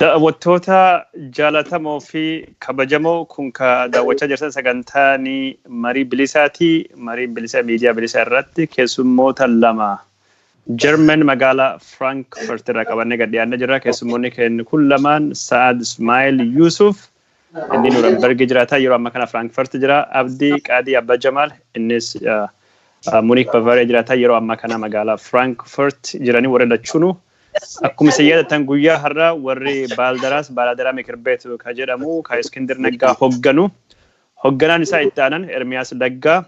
Daawwattoota jaalatamoo fi kabajamoo kun ka daawwachaa jirtan sagantaa ni marii bilisaati. Marii bilisa miidiyaa bilisa irratti keessummoota lama German magaalaa Frankfurt irraa qabannee gad dhiyaannee jirra. Keessummoonni keenya kun lamaan Sa'ad Ismaa'il Yuusuf Inni Nuurambergi jiraata. Yeroo amma kana Frankfurt jira. Abdi Qaadii Abba Jamaal innis Munich Bavaria jiraata. Yeroo amma kana magaalaa Frankfurt jiranii warri lachuunu. Akkuma isin yaadattan guyyaa har'a warri Baaldaraas Baalaadaraa Mikir Beet ka jedhamu ka Iskindir Naggaa hogganu. Hogganaan isaa itti aanan Ermiyaas Laggaa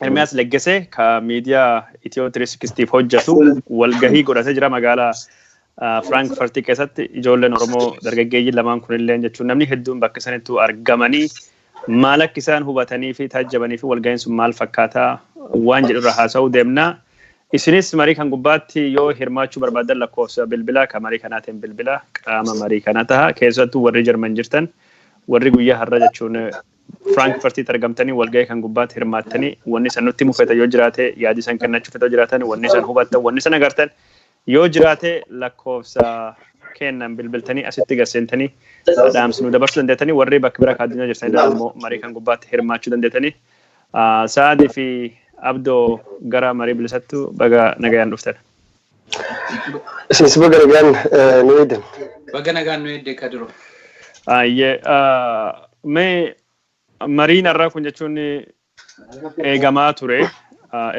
Ermiyaas Leggesee ka miidiyaa Itiyoo 360 hojjetu walgahii godhatee jira magaalaa Firaankifartii keessatti ijoolleen Oromoo dargaggeeyyiin lamaan kunillee jechuun namni hedduun bakka sanittuu argamanii maal akka isaan hubatanii fi taajjabanii fi walgahiin sun maal fakkaataa waan jedhurra haasa'uu deemna. Isinis marii kan gubbaatti yoo hirmaachuu barbaadan lakkoofsa bilbilaa kan marii kanaatiin bilbilaa qaama marii kana taha keessattuu warri Jarman jirtan warri guyyaa har'a jechuun Firaankfartiitti argamtanii walgahii kan gubbaatti hirmaattanii wanni san nutti himu feetan yoo jiraate yaadi san kennachuu feetan yoo jiraatan wanni san hubattan wanni san agartan yoo jiraate lakkoofsa keennan bilbiltanii asitti gasseentanii dhaamsi nu dabarsuu dandeettanii warri bakka bira kan addunyaa jirtanii dhaan immoo marii kan gubbaatti hirmaachuu dandeettanii Sa'aadii fi Abdoo gara marii bilisattu baga nagayaan dhuftan. Isinis baga nagaan nu eegdan. Baga nagaan nu eegde Kadiro. Ayyee mee mariin har'aa kun jechuun eegamaa ture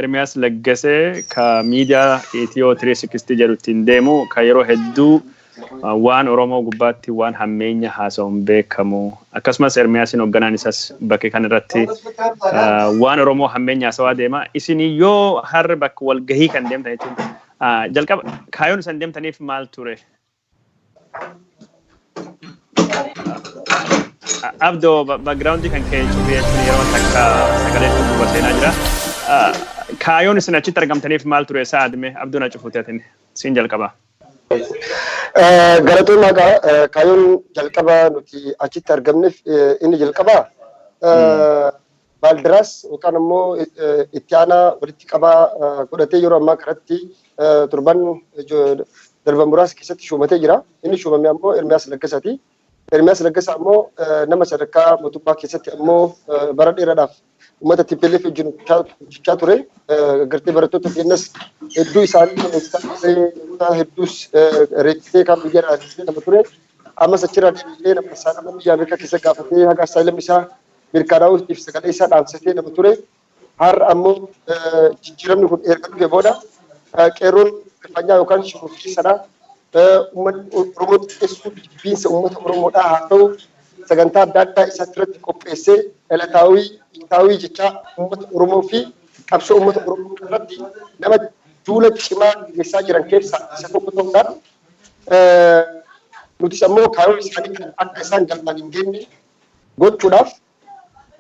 Ermiyaas Laggasee ka miidiyaa Itiyoo 360 jedhu ittiin deemu ka yeroo hedduu Waan Oromoo gubbaatti waan hammeenya haasa'uun beekamu, akkasumas Ermiyaasiin hogganaan isaas bakke kan irratti waan Oromoo hammeenya haasawaa deema. Isin yoo har'a bakka walgahii kan deemtan jechuun jalqaba kaayoon isan deemtaniif maal ture? Abdo background kan kee cufee jechuun yeroo takka sagalee duuba seenaa jira. Kaayoon isin achitti argamtaniif maal ture sa'a adme Abdoon acufuuti atin siin jalqabaa. Galatoomaa gaa kaayyoon jalqaba nuti achitti argamneef inni jalqaba baaldiraas yookaan immoo itti aanaa walitti qabaa godhatee yeroo ammaa kanatti turban darban muraasa keessatti shuumatee jira. Inni shuumame ammoo Ermiyaas Laggasaati. Ermiyaas Laggasaa ammoo nama sadarkaa mootummaa keessatti ammoo bara dheeraadhaaf uummata TPLF wajjin hojjechaa ture. Gartee barattoota keenyas hedduu isaanii hojjechaa ture. Namoota hedduus reekkisee kan biyya irraa deemee nama ture. Ammas achirraa deebi'ee nama isaa nama biyya Ameerikaa keessa gaafatee haga asaayilamni isaa mirkanaa'uutiif sagalee isaa dhaamsatee nama ture. Har'a ammoo jijjiiramni kun erga dhufe booda qeerroon rifanyaa yookaan shororkeessadha. Uummanni Oromoo xiqqeessuu fi jibbiinsa uummata Oromoodhaa haa ta'u sagantaa adda addaa isatti irratti qopheessee dhalataawii, dhiitaawii jechaa uummata Oromoo fi qabsoo uummata Oromoo irratti nama duula cimaa gaggeessaa jiran keessaa isa tokko ta'uudhaan nutis ammoo kaayoo isaanii kana akka isaan galmaan hin geenye gochuudhaaf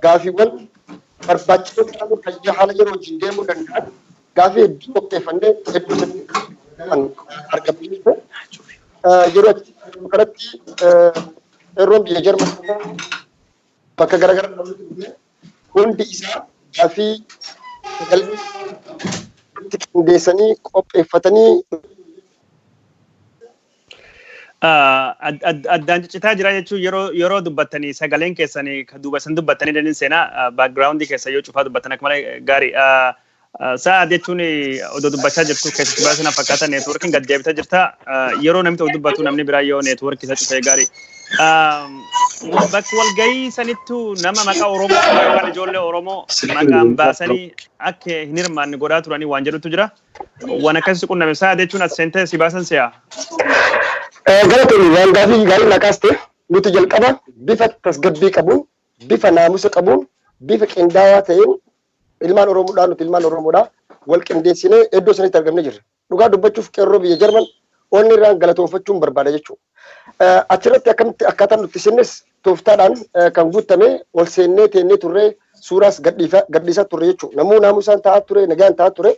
Gaaffiiwwan barbaachisoo ta'an fayyaa haala yeroo wajjin deemuu danda'an gaaffii hedduu qopheeffannee hedduu hedduu kan argamsiisne yeroo achi kanatti qeerroon biyya Jarman bakka garaagaraa hundi isaa gaaffii galmee qindeessanii qopheeffatanii Addaan ciccitaa jira jechuun yeroo yeroo dubbattanii sagaleen keessanii ka duuba isin dubbattanii daniin seenaa baakgiraawundii keessa yoo cufaa dubbattan akka malee gaarii. Sa'a jechuun odoo dubbachaa jirtu keessatti baay'ee sana fakkaata neetwoorkiin gad deebitee jirta. Yeroo namni tokko dubbatu namni biraa yoo neetwoorkii isa cufee gaarii. Bakka walgahii sanittu nama maqaa Oromoo yookaan ijoollee Oromoo maqaan baasanii akka hin hirmaanne godhaa turanii waan jedhutu jira. Waan akkas si qunname saa jechuun as seentee si baasan si'a. Galatoomi waan gaafii gaarii naa kaaste nuti jalqaba bifa tasgabbii qabuun bifa naamusa qabuun bifa qindaawaa ta'een ilmaan Oromoodhaa nuti ilmaan Oromoodhaa wal qindeessinee iddoo sanitti argamne jirra. Dhugaa dubbachuuf qeerroo biyya Jarman onni irraan galatoonfachuun barbaada jechuudha. Achirratti akkamitti akkaataan nutti sinnes Tooftaadhaan kan guuttame ol seennee teennee turre suuraas gadhiisaa turre jechuudha. Namuu naamusaan taa'aa ture, nagaan taa'aa ture.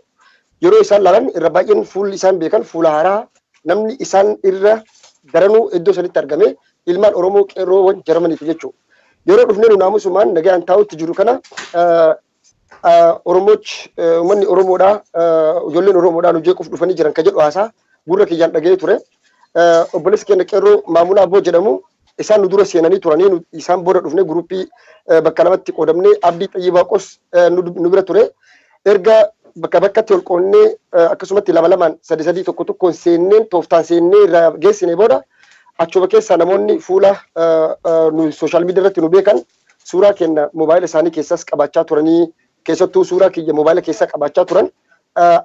Yeroo isaan laalan irra baay'een fuulli isaan beekan fuula haaraa namni isaan irra daranuu iddoo sanitti argame ilmaan Oromoo qeerroowwan Jarmaniiti jechuudha. Yeroo dhufnee nu naamusumaan nagaan taa'utti jiru kana Oromoochi uummanni Oromoodhaa ijoolleen Oromoodhaa nu jeequuf dhufanii jiran kan jedhu haasaa gurra kiyyaan dhaga'ee ture. Obboleessi keenya qeerroo Maamuna Abboo jedhamu isaan nu dura seenanii turanii nu- isaan booda dhufnee guruppii eh, bakka lamatti qoodamnee Abdii Xayyibaa Qos eh, nu nu bira ture. Erga bakka bakkatti ol qoonnee eh, akkasumatti lama lamaan sadii sadii tokko tokkoon seenneen tooftaan seennee irraa geessine booda achuma keessaa namoonni fuula eh, eh, nu sooshaal miidiyaa irratti nu beekan suuraa keenna mobaayila isaanii keessaas qabaachaa turanii keessattuu suuraa kiyya mobaayila keessaa qabaachaa turan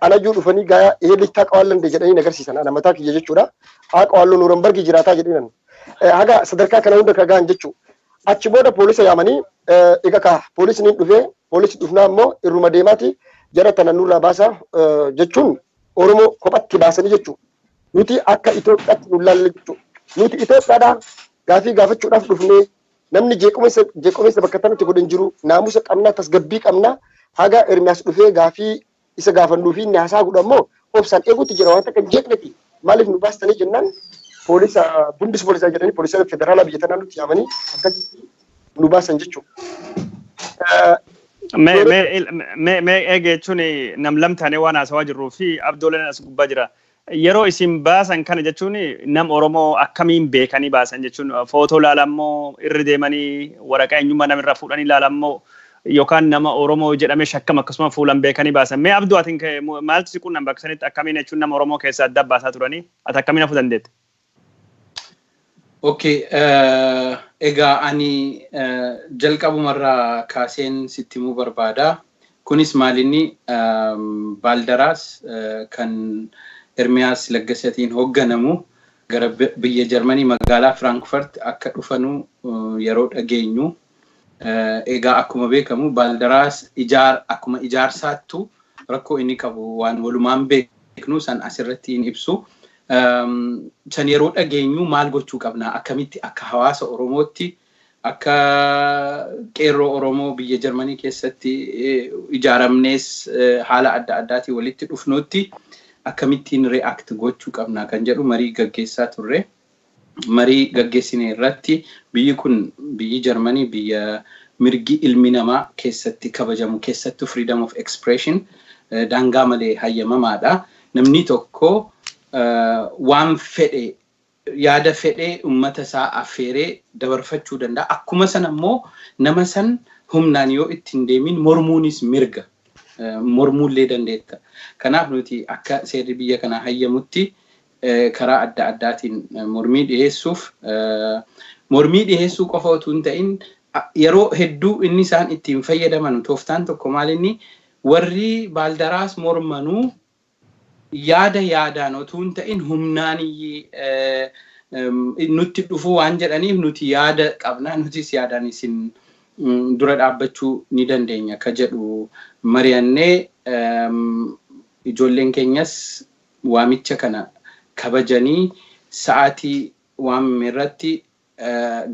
anayyuu dhufanii gaayaa ee beektaa qawaallande jedhanii nagarsiisan ana mataa kiyya jechuudha haa qawaalloo nuurambargii jiraataa jedhinan haga sadarkaa kana hunda ka ga'an jechuu achi booda poolisa yaamanii egaa ka poolisni dhufee poolisi dhufnaa immoo irruma deemaati jara tana nurraa baasaa jechuun Oromoo kophatti baasanii jechuudha. Nuti akka Itoophiyaatti nu ilaalle jechuudha. Nuti Itoophiyaadhaa gaafii gaafachuudhaaf dhufnee Namni jeequmessa jeequmessa bakka tanatti godhe hin jiru. Naamusa qabna, tasgabbii qabna. Haga Ermiyaas dhufee gaafii isa gaafannuu fi inni haasaa godhu ammoo obsaan eeguutti jira. Waan takka hin jeeqneti. Maaliif nu baastanii jennaan poolisa bundis poolisaa jedhanii poolisoota federaalaa biyya tanaa nutti yaamanii akkasitti nu baasan jechuudha. Mee Ijoollee mee mee mee eega jechuun nam lam taanee waan haasawaa jirruu fi abdooleen as gubbaa jira. Yeroo isin baasan kana jechuun nam Oromoo akkamiin beekanii baasan jechuun footoo laalan moo irra deemanii waraqaa eenyummaa nama irraa fuudhanii laalan moo yookaan nama Oromoo jedhamee shakkam akkasuma fuulan beekanii baasan mee Abduu atin maaltu si qunname bakka sanitti akkamiin jechuun nama Oromoo keessaa adda baasaa turanii ati akkamiin hafuu dandeette? Okay, eh, egaa ani eh, jalqabumarraa kaaseen sitti himuu barbaada. Kunis maalinni ehm, baaldaraas eh, kan Ermiyaas Laggasatiin hoogganamu gara bi- biyya Jarmanii magaalaa Firaankfurt akka dhufanu eh, yeroo dhageenyu Egaa akkuma beekamu Baaldaraas ijaar akkuma ijaarsaattu rakkoo inni qabu waan walumaan beeknu san asirratti hin ibsu. San yeroo dhageenyu maal gochuu qabna? Akkamitti akka hawaasa Oromootti akka qeerroo Oromoo biyya Jarmanii keessatti ijaaramnees haala adda addaatiin walitti dhufnuutti akkamittiin react gochuu qabna kan jedhu marii gaggeessaa turre. marii gaggeessine irratti biyyi kun biyyi Jarmanii biyya mirgi ilmi namaa keessatti kabajamu keessattuu freedom of expression daangaa malee hayyamamaadha. Namni tokko waan fedhe yaada fedhe ummata isaa affeeree dabarfachuu danda'a. Akkuma sana immoo nama san humnaan yoo itti hin deemiin mormuunis mirga. Mormuullee dandeetta. Kanaaf nuti akka seerri biyya kanaa hayyamutti karaa adda addaatiin mormii dhiheessuuf mormii dhiheessuu qofa utuu hin ta'in yeroo hedduu inni isaan ittiin fayyadamanu tooftaan tokko maal inni warri baaldaraas mormanuu yaada yaadaan utuu hin ta'in humnaan nutti dhufuu waan jedhaniif nuti yaada qabna nutis yaadaan isin dura dhaabbachuu ni dandeenya ka jedhu mari'annee ijoolleen keenyas Waamicha kana kabajanii sa'aatii waamame irratti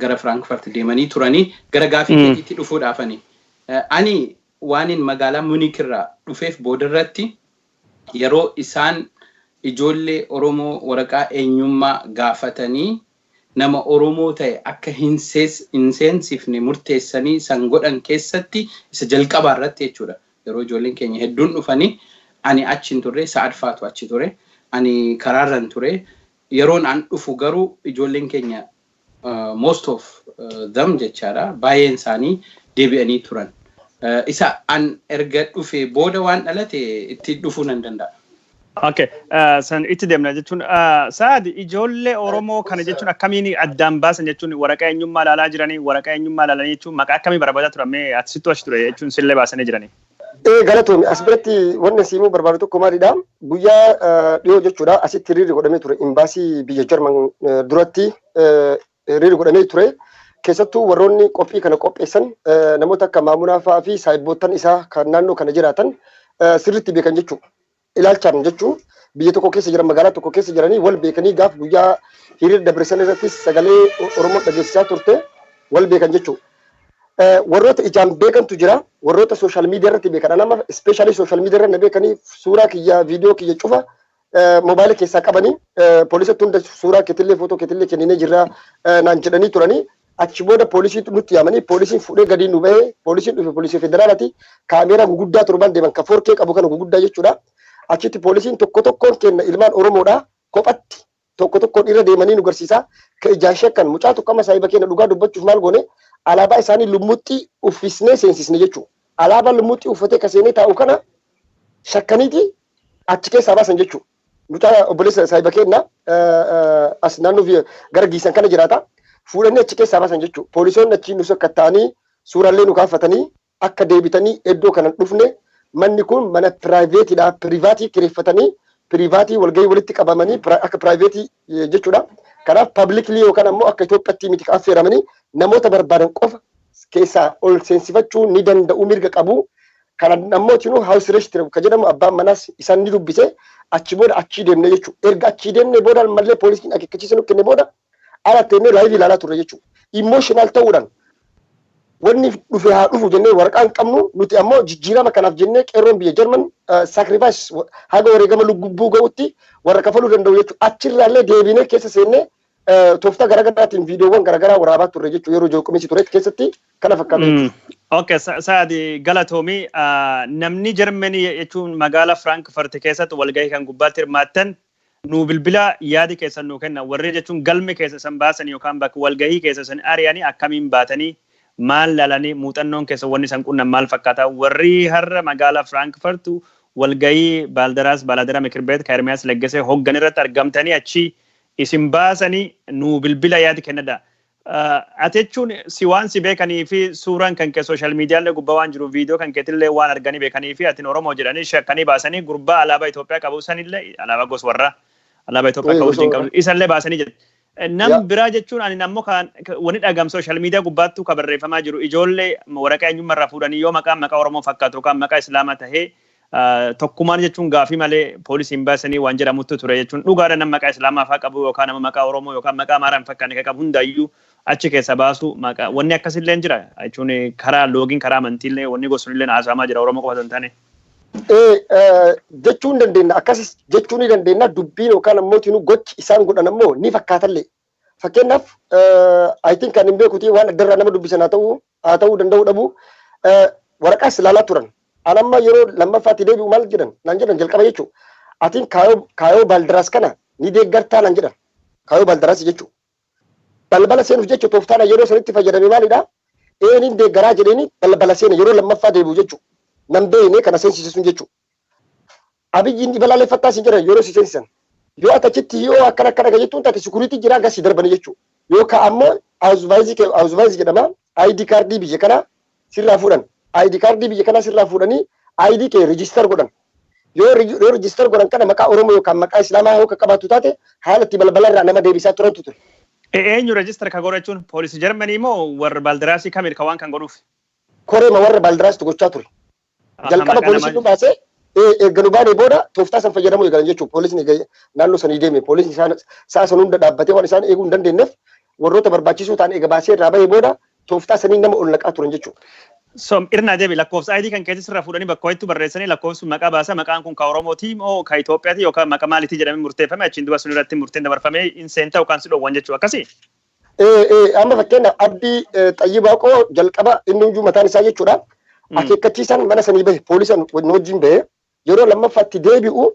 gara Frankfurt deemanii turani. Gara gaafii keetiitti dhufuudhaafani. Ani waanin magaalaa Munich irraa dhufeef boodarratti yeroo isaan ijoollee Oromoo waraqaa eenyummaa gaafatanii nama Oromoo ta'e akka hin seensifne murteessanii san godhan keessatti isa jalqabaa irratti jechuu dha. Yeroo ijoolleen keenya hedduun dhufanii ani achi hin turre Sa'ad faatu achi ture. Ani karaa irran ture. Yeroon an dhufu garuu ijoolleen keenya most of them jechaa dha baay'een isaanii deebi'anii turan. Isa an erga dhufee booda waan dhalate itti dhufuu nan danda'a. Okay, ah, san itti deemna jechuun ah, Saad ijoollee Oromoo kana jechuun akkamiin addaan baasan jechuun waraqaa eenyummaa ilaalaa jiranii waraqaa eenyummaa ilaalanii jechuun maqaa akkamii barbaadaa turan mee ati sittu achi ture jechuun sillee baasanii jiranii. Ee galatoomi as biratti wanni siimuu barbaadu tokko maalidha guyyaa eh, dhiyoo jechuudha asitti hiriirri godhamee ture imbaasii biyya Jarman eh, duratti eh, hiriirri godhamee ture. Keessattuu warroonni qophii kana qopheessan namoota akka Maamunaa fa'aa fi saahibboottan isaa kan naannoo kana jiraatan sirriitti beekan jechuudha. Ilaalchaan jechuun biyya tokko keessa jiran magaalaa tokko keessa jiranii wal beekanii gaaf guyyaa hiriira dabarsan irrattis sagalee Oromoo dhageessisaa turte wal beekan jechuudha. Warroota ijaan beekantu jira. Warroota sooshaal miidiyaa irratti beekan. Anama ispeeshaalii sooshaal miidiyaa irra na beekanii suuraa kiyya viidiyoo kiyya cufa moobaayila keessaa qabanii poolisatti hunda suuraa keetillee footoo keetillee kenninee jirra naan jedhanii turanii achi booda poolisiitu nutti yaamanii poolisiin fuudhee gadii nu bahee poolisiin dhufe poolisii federaalati kaameeraa guguddaa torban deeman ka foorkee qabu kana guguddaa jechuudha achitti poolisiin tokko tokkoon kenna ilmaan oromoodha kophatti tokko tokkoon irra deemanii nu garsiisaa ka ijaan shakkan mucaa tokko amma saahiba keenya dhugaa dubbachuuf maal goone alaabaa isaanii lummuxxii uffisnee seensisne jechuudha alaabaa lummuxxii uffatee ka seenee taa'u kana shakkaniiti achi keessaa baasan jechuu mucaa obboleessa saahiba keenna as naannoo fi gara giisan kana jiraata fuudhanii achi keessaa baasan jechuu poolisoonni achi nu sakkatta'anii suuraallee nu kaafatanii akka deebitanii iddoo kana hin dhufne manni kun mana piraayiveetiidha pirivaatii kireeffatanii pirivaatii walgahii walitti qabamanii pira- akka piraayiveetii jechuudha. Kanaaf publicly yookaan ammoo akka Itoophiyaatti miti kan affeeramanii namoota barbaadan qofa keessaa ol seensifachuu ni danda'u mirga qabu. Kana ammoo tinuu house arrest kan jedhamu abbaan manaas isaan ni dubbise achi booda achii deemne jechuudha. Erga achii deemne booda malee poolisiin akeekkachiisa nu kenne booda ala teennee live ilaalaa turre jechuudha. Emotional ta'uudhaan Wanni dhufe haa dhufu jennee waraqaa hin qabnu, nuti ammoo jijjiirama kanaaf jennee qeerroon biyya Jarman sacrifice haga wareegama lugubbuu ga'utti warra kafaluu danda'u jechuun achirraallee deebinee keessa seennee tooftaa garaagaraatiin viidiyoowwan garaagaraa waraabaa turre jechuun yeroo jeequminsi turetti keessatti kana fakkaata jechuudha. Ok, Sa'aadi galatoomi. Namni Jarmanii jechuun magaalaa Firaankifarti keessatti walgahii kan gubbaatti hirmaattan Nuu bilbilaa yaadi keessan nuu kenna warri jechuun galme keessa isan baasani yookaan bakka walgahii keessa isan ari'ani akkamiin baatanii? Maal laalani? Muuxannoon keessan wanni isan qunnan maal fakkaata? Warri har'a magaala Frankfurt walgahii Baaldaraas Baalaadara Mikirbeet ka Ermiyaas Leggesee hoggan irratti argamtanii achii isin baasani nuu bilbila yaadi kennadha. Ati jechuun si waan si beekanii fi suuraan kan kee social media illee gubbaa waan jiruuf video kan keetillee waan arganii beekanii fi atin Oromoo jedhanii shakkanii baasanii gurbaa alaabaa Itoophiyaa qabu sanillee alaabaa gos warraa alaabaa Itoophiyaa Ee, akka urjiin gosa qabdu isallee baasanii jedhu. Nam Ya. biraa jechuun ani ammoo kan wani dhagam social media gubbaattuu ka barreeffamaa jiru ijoollee waraqaa eenyummaa irraa fuudhanii yoo maqaan maqaa Oromoo fakkaatu yookaan maqaa Islaamaa tahee Tokkumaan jechuun gaafii malee poolisiin baasanii waan jedhamuttu ture jechuun dhugaadha nama maqaa islaamaa faa qabu yookaan nama maqaa oromoo yookaan maqaa amaaraa hin fakkaanne kan qabu hundaayyuu achi keessa baasu maqaa wanni akkasillee jira jechuun karaa loogiin karaa amantiillee wanni gosunillee haasa'amaa jira oromoo qofa hin taane. Jechuu hin dandeenya akkasis jechuu ni dandeenya dubbiin yookaan ammoo gochi isaan godhan ammoo ni fakkaatallee Fakkeenyaaf I think kan hin beekuti waan addarraa nama dubbisan haa ta'uu haa ta'uu danda'uu dhabu waraqaas ilaalaa turan. An amma yeroo lammaffaatti deebi'u maal jedhan naan jedhan jalqaba jechuu atiin kaayoo baaldaraas kana ni deeggartaa naan jedhan kaayoo baaldaraas jechuu balbala seenuuf jecha tooftaana yeroo sanitti fayyadame maalidha eeniin deeggaraa jedheeni balbala seena yeroo lammaffaa deebi'u jechuu nan beekne kana seensisisun jechuu Abiyyi ni balaaleffattaa siin jedhan yeroo si seensisan. Yoo ati achitti hi'oo akkana akkana kan jettuun taate sikuriitii jiraa gas si darbanii jechuu. Yoo ka ammoo awuzvaayizii kee awuzvaayizii jedhama ID kaardii biyya kanaa sirraa fuudhan. ID kaardii biyya kanaa sirraa fuudhanii ID kee register godhan. Yoo regi- yoo register godhan kana maqaa Oromoo yookaan maqaa Islaamaa yoo kan qabaattu taate haala itti balbala irraa nama deebisaa turantu ture. E- Eenyu register ka godhachuun poolisii Jarmanii moo warra Baaldiraasii kamidha ka waan kan godhuuf? Koreema warra Baaldiraasitu gochaa ture. Jalqaba poolisiin nu baasee erga nu baanee booda tooftaa san fayyadamuu eegalan jechuudha. Poolisni naannoo sanii deeme poolisni isaan sa'a san hunda dhaabbatee waan isaan eeguu hin dandeenyeef warroota barbaachisoo ta'an eega baasee irraa bahee booda tooftaa saniin nama ol naqaa turan jechuudha. Som irnaa deebi lakkoofsa ID kan keessa sirra fuudhanii bakka wayittu barreessanii lakkoofsi sun maqaa baasa maqaan kun ka Oromootii moo ka Itoophiyaati yookaan maqa maalitii jedhamee murteeffame achiin duba sun irratti murteen dabarfamee hin seenta yookaan si dhowwan jechuu akkasii? Ee, ee, amma fakkeenyaaf Abdii eh, Xayyibaa koo jalqaba inni iyyuu mataan isaa jechuudha. Mm. Akeekkachiisaan mana sanii bahe poolisan nu wajjin bahe yeroo lammaffaatti deebi'u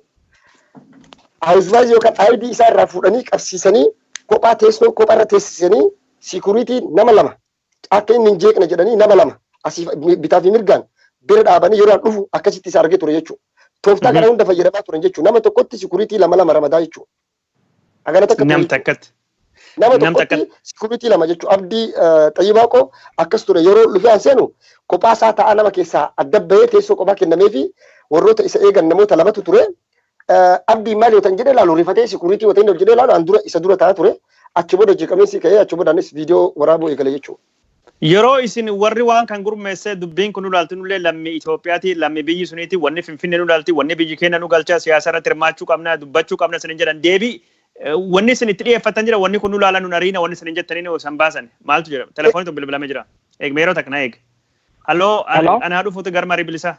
haawusvaayizii yookaan aayidii isaa irraa fuudhanii qabsiisanii kophaa teessoo kophaa irra teessisanii siikuriitii nama lama akka inni hin jeeqne jedhanii nama lama asiif mi- bitaa fi mirgaan bira dhaabanii yeroo an dhufu akkasitti isa argee ture jechuudha. Tooftaa kana Mhm. hunda fayyadamaa turan jechuudha. Nama tokkotti siikuriitii lama lama ramadaa jechuudha. Hagana takka Nam takkatti. nama Nam tokkotti takka- sikuritii lama jechuun abdii xayyibaa koo akkas ture yeroo lufee an seenu kophaa isaa ta'a nama keessaa adda bahee teessoo kophaa kennamee fi warroota isa eegan namoota lamatu ture. Eh, Abdii maal yoo ta'an jedhee ilaalu rifatee sikuritii yoo ta'an jedhee ilaalu an dura isa dura ta'a ture achi booda jeeqamee si ka'ee achi booda anis viidiyoo waraabuu eegale jechuudha. Yeroo isin warri waan kan gurmeessee dubbiin kun nu ilaaltu nullee lammii Itoophiyaati, lammii biyyi suniiti, wanni Finfinnee nu ilaalti, wanni biyyi keenna nu galcha, siyaasa irratti hirmaachuu qabna, dubbachuu qabna isinin jedhan deebii wanni isin itti dhiyeeffattan jira, wanni kun nu ilaala nun ariina wanni isinin jettaniin osoo hin baasani. Maaltu jedhama? Telefoonitu bilbilame jira. Eeg meeroo takka na eeg. Haloo Hello. an haa dhufuutu gara marii bilisaa.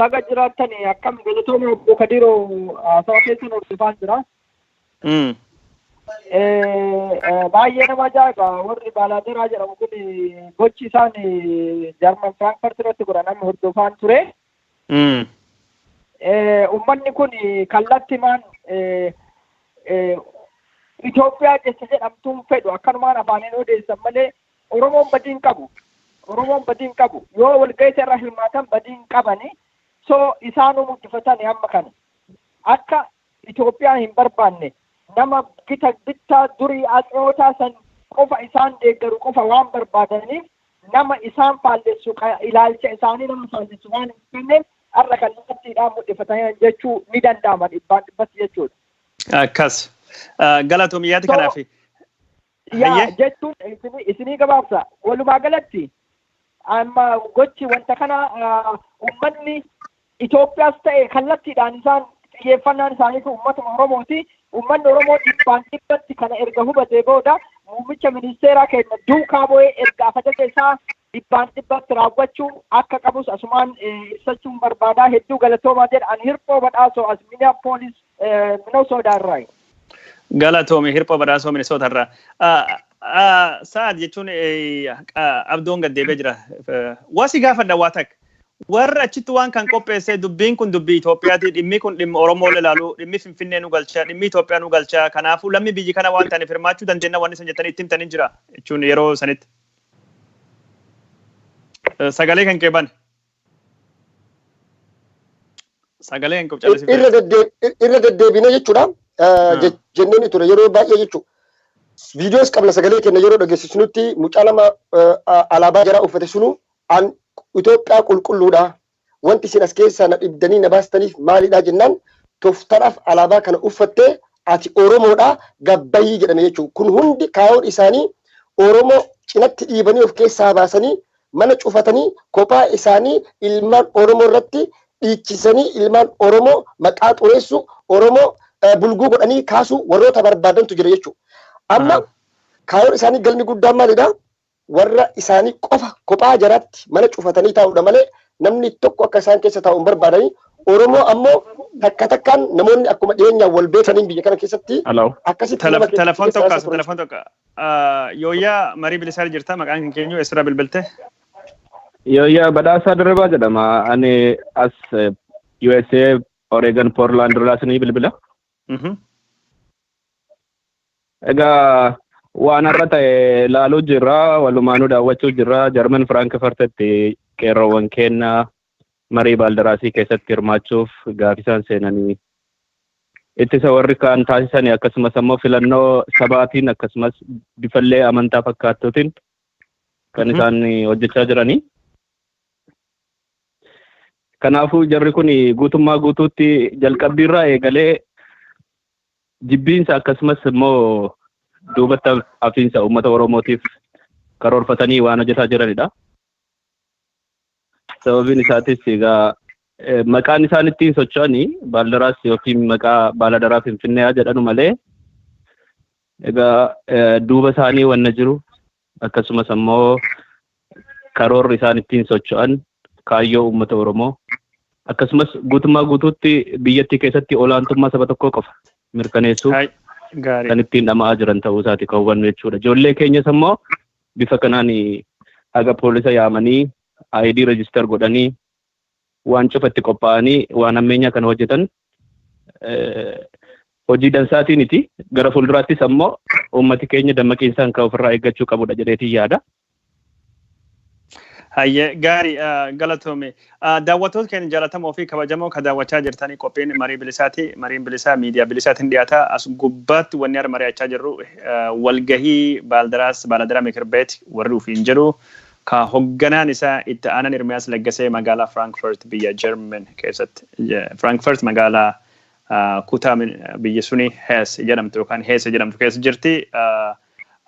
Baga jiraattani akkam galatooma obbo Kadiroo haasawaa keessan hordofaan jira. Mm. Eh, baay'ee nama ajaa'iba warri baaladeeraa jedhamu kun gochi isaan jarman firaankfurt irratti godhan amma hordofaan ture Mm. Eh, ummanni kun kallattimaan eh, eh, Itoophiyaa jecha jedhamtuun fedhu akkanumaan afaaniin odeessan malee Oromoon badii hin qabu Oromoon badii hin qabu yoo walga'ii irra hirmaatan badii hin qabani so isaanuu mul'ifatani amma kana akka Itoophiyaa hin barbaanne, nama gita bittaa durii Atseewotaa san qofa isaan deeggaru qofa waan barbaadaniif nama isaan faallessu ka ilaalcha isaanii nama faallessu waan hin qabneef har'a kallattiidhaan mudhifataniiran jechuu ni danda'ama dhibbaan dhibbatti jechuudha. Akkas. Galatoomi yaada So- kanaaf. yaa Hayyee. jechuun isinii- isinii gabaabsa walumaa galatti amma gochi wanta kana ah, ummanni Itoophiyaas ta'e kallattiidhaan isaan xiyyeeffannaan isaanii kun ummatuma Oromooti. Ummanni Oromoo dhibbaan dhibbatti kana erga hubatee booda muummicha ministeeraa keenya duukaa bu'ee erga afajaja isaa dhibbaan dhibbatti raawwachuu akka qabus asumaan ibsachuun barbaadaa hedduu galatoomaa jedha an hirphoo badhaasoo as minneapolis minnesota irraa Galatoomi hirphoo badhaasoo Minnesota irraa. Sa'ad jechuun abdoon gad deebi'ee jira. Waa si gaafadha waa takka. Warra achitti waan kan qopheessee dubbiin kun dubbii Itoophiyaati dhimmi kun dhimma Oromoo ilaalu dhimmi Finfinnee nu galcha dhimmi Itoophiyaa nu galcha kanaafuu lammi biyyi kana waan ta'aniif hirmaachuu dandeenya waan isin jettanii itti himtanii jira jechuun yeroo sanitti. Sagalee kan kee bane. Sagalee kan kee callisifte. irra deddeeb- irra deddeebine jechuudha Ah. je- jenneen ture yeroo baay'ee jechuudha. Viidiyoos qabna sagalee kenna yeroo dhageessisnutti mucaa nama eh, a- alaabaa jaraa uffate sunu an Itoophiyaa qulqulluudha Wanti isin as keessaa na dhibdanii na baastaniif maalidha jennaan toftadhaaf alaabaa kana uffattee ati Oromoodha gad bahii jedhame jechuun kun hundi kaayoon isaanii Oromoo cinatti dhiibanii of keessaa baasanii mana cufatanii kophaa isaanii ilmaan Oromoo irratti dhiichisanii ilmaan Oromoo maqaa xureessuu Oromoo bulguu godhanii kaasuu warroota barbaadantu jira jechuudha. Amma kaayoon isaanii galmi guddaan maalidha? warra isaanii qofa kophaa jaraatti mana cufatanii taa'uudha malee namni tokko akka isaan keessa taa'u hin barbaadanii Oromoo ammoo takka takkaan namoonni akkuma dhiyeenyaan wal beekaniin biyya kana keessatti Hello. akkasitti nama keessatti Telefoon keessa tokko keessa as turan. telefoon tokko. Ah, Yooyyaa marii bilisaa jirta maqaan kan keenyu eessarraa bilbilte. Yooyyaa badhaasaa dirribaa jedhama. Ani as eh, USA Oregon Portland irraa isinii bilbila. Egaa waan har'a ta'e ilaaluu jirra walumaanuu daawwachuu jirra jarman firaankifurtitti qeerroowwan keenya marii baaldaraasii keessatti hirmaachuuf gaafisaan seenanii ittisa warri kaan taasisanii akkasumas ammoo filannoo sabaatiin akkasumas bifallee amantaa fakkaattuutiin kan isaan hojjechaa jiranii. Kanaafuu jarri kun guutummaa guutuutti jalqabbiirraa eegalee jibbiinsa akkasumas immoo duubatti hafiinsa uummata Oromootiif karoorfatanii waan hojjetaa jiranidha. Sababiin isaatis egaa eh, maqaan isaan ittiin socho'anii baaldaraas yookiin maqaa baaladaraa Finfinnee haa jedhanu malee egaa eh, duuba isaanii wanna jiru akkasumas ammoo karoorri isaan ittiin socho'an kaayyoo uummata Oromoo akkasumas guutummaa guutuutti biyyattii keessatti olaantummaa saba tokkoo qofa mirkaneessuuf Hay, kan Gaarii. ittiin dhama'aa jiran ta'uu isaati kan hubannu jechuudha. Ijoollee keenyas ammoo bifa kanaan haga poolisa yaamanii ID register godhanii waan cufatti qophaa'anii waan ammeenyaa kana hojjetan hojii dansaatiiniti. Gara fuulduraattis ammoo uummati keenya dammaqiinsaan kan ofirraa eeggachuu qabudha jedheetiin yaada. Hayyee gaarii galatoome. Daawwattoota keenya jaallatamoo fi kabajamoo kan daawwachaa jirtanii qophiin marii bilisaati. Mariin bilisaa miidiyaa bilisaatiin dhiyaata. As gubbaatti wanni har'a mari'achaa jirru walgahii baaldaraas baaladaraa mikir beet warri ofiin jedhu Ka hogganaan isaa itti aanan Ermiyaas Laggasee magaalaa Frankfurt biyya German keessatti Frankfurt magaalaa kutaa biyya suni Hees jedhamtu yookaan Heese jedhamtu keessa jirti.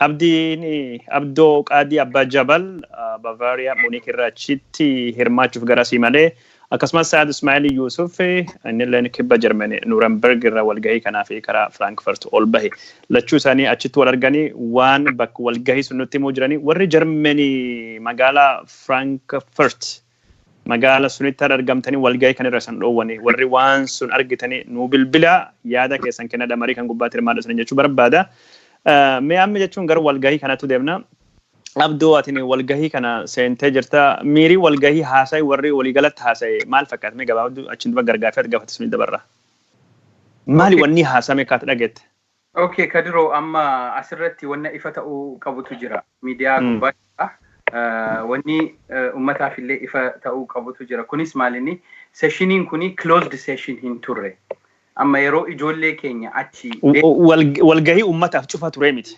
Abdiin Abdoo Qaadii Abbaa Jabal Bavaariyaa Muuniik irraa achitti hirmaachuuf garasii malee Akkasumas Sa'ad Ismaa'il Yuusuf innilleen kibba Jarmanii Nuuramberg irra walgahii kanaaf karaa Firaankfurt ol bahe. Lachuu isaanii achitti wal arganii waan bakka walgahii sun nutti himuu jiranii warri Jarmanii magaalaa Firaankfurt magaala sunitti har'a argamtanii walgahii kan irra isan dhoowwanii warri waan sun argitanii nuu bilbilaa yaada keessan kennadha marii kan gubbaatti hirmaadha isaniin jechuu barbaada. Mee amma jechuun gara walgahii kanattu deemna. Abdoo atini walgahii kana seentee jirta miirii walgahii haasa'e warri waliigalatti haasa'e maal fakkaata mee gabaabadhu achiin dura gargaafii ati gaafate sunii dabarra. Maali Okay. wanni haasa'ame akka ati dhageette? Okay, Kadiroo amma asirratti wanna ifa ta'uu qabutu jira. Miidiyaa Mm. gubbaa jira. Eh, Wanni eh, ummataaf illee ifa ta'uu qabutu jira. Kunis maalinni seshiniin kuni closed session hin turre. Amma yeroo ijoollee keenya achi U- u- wal- Walgahii uummataaf cufa turee miti.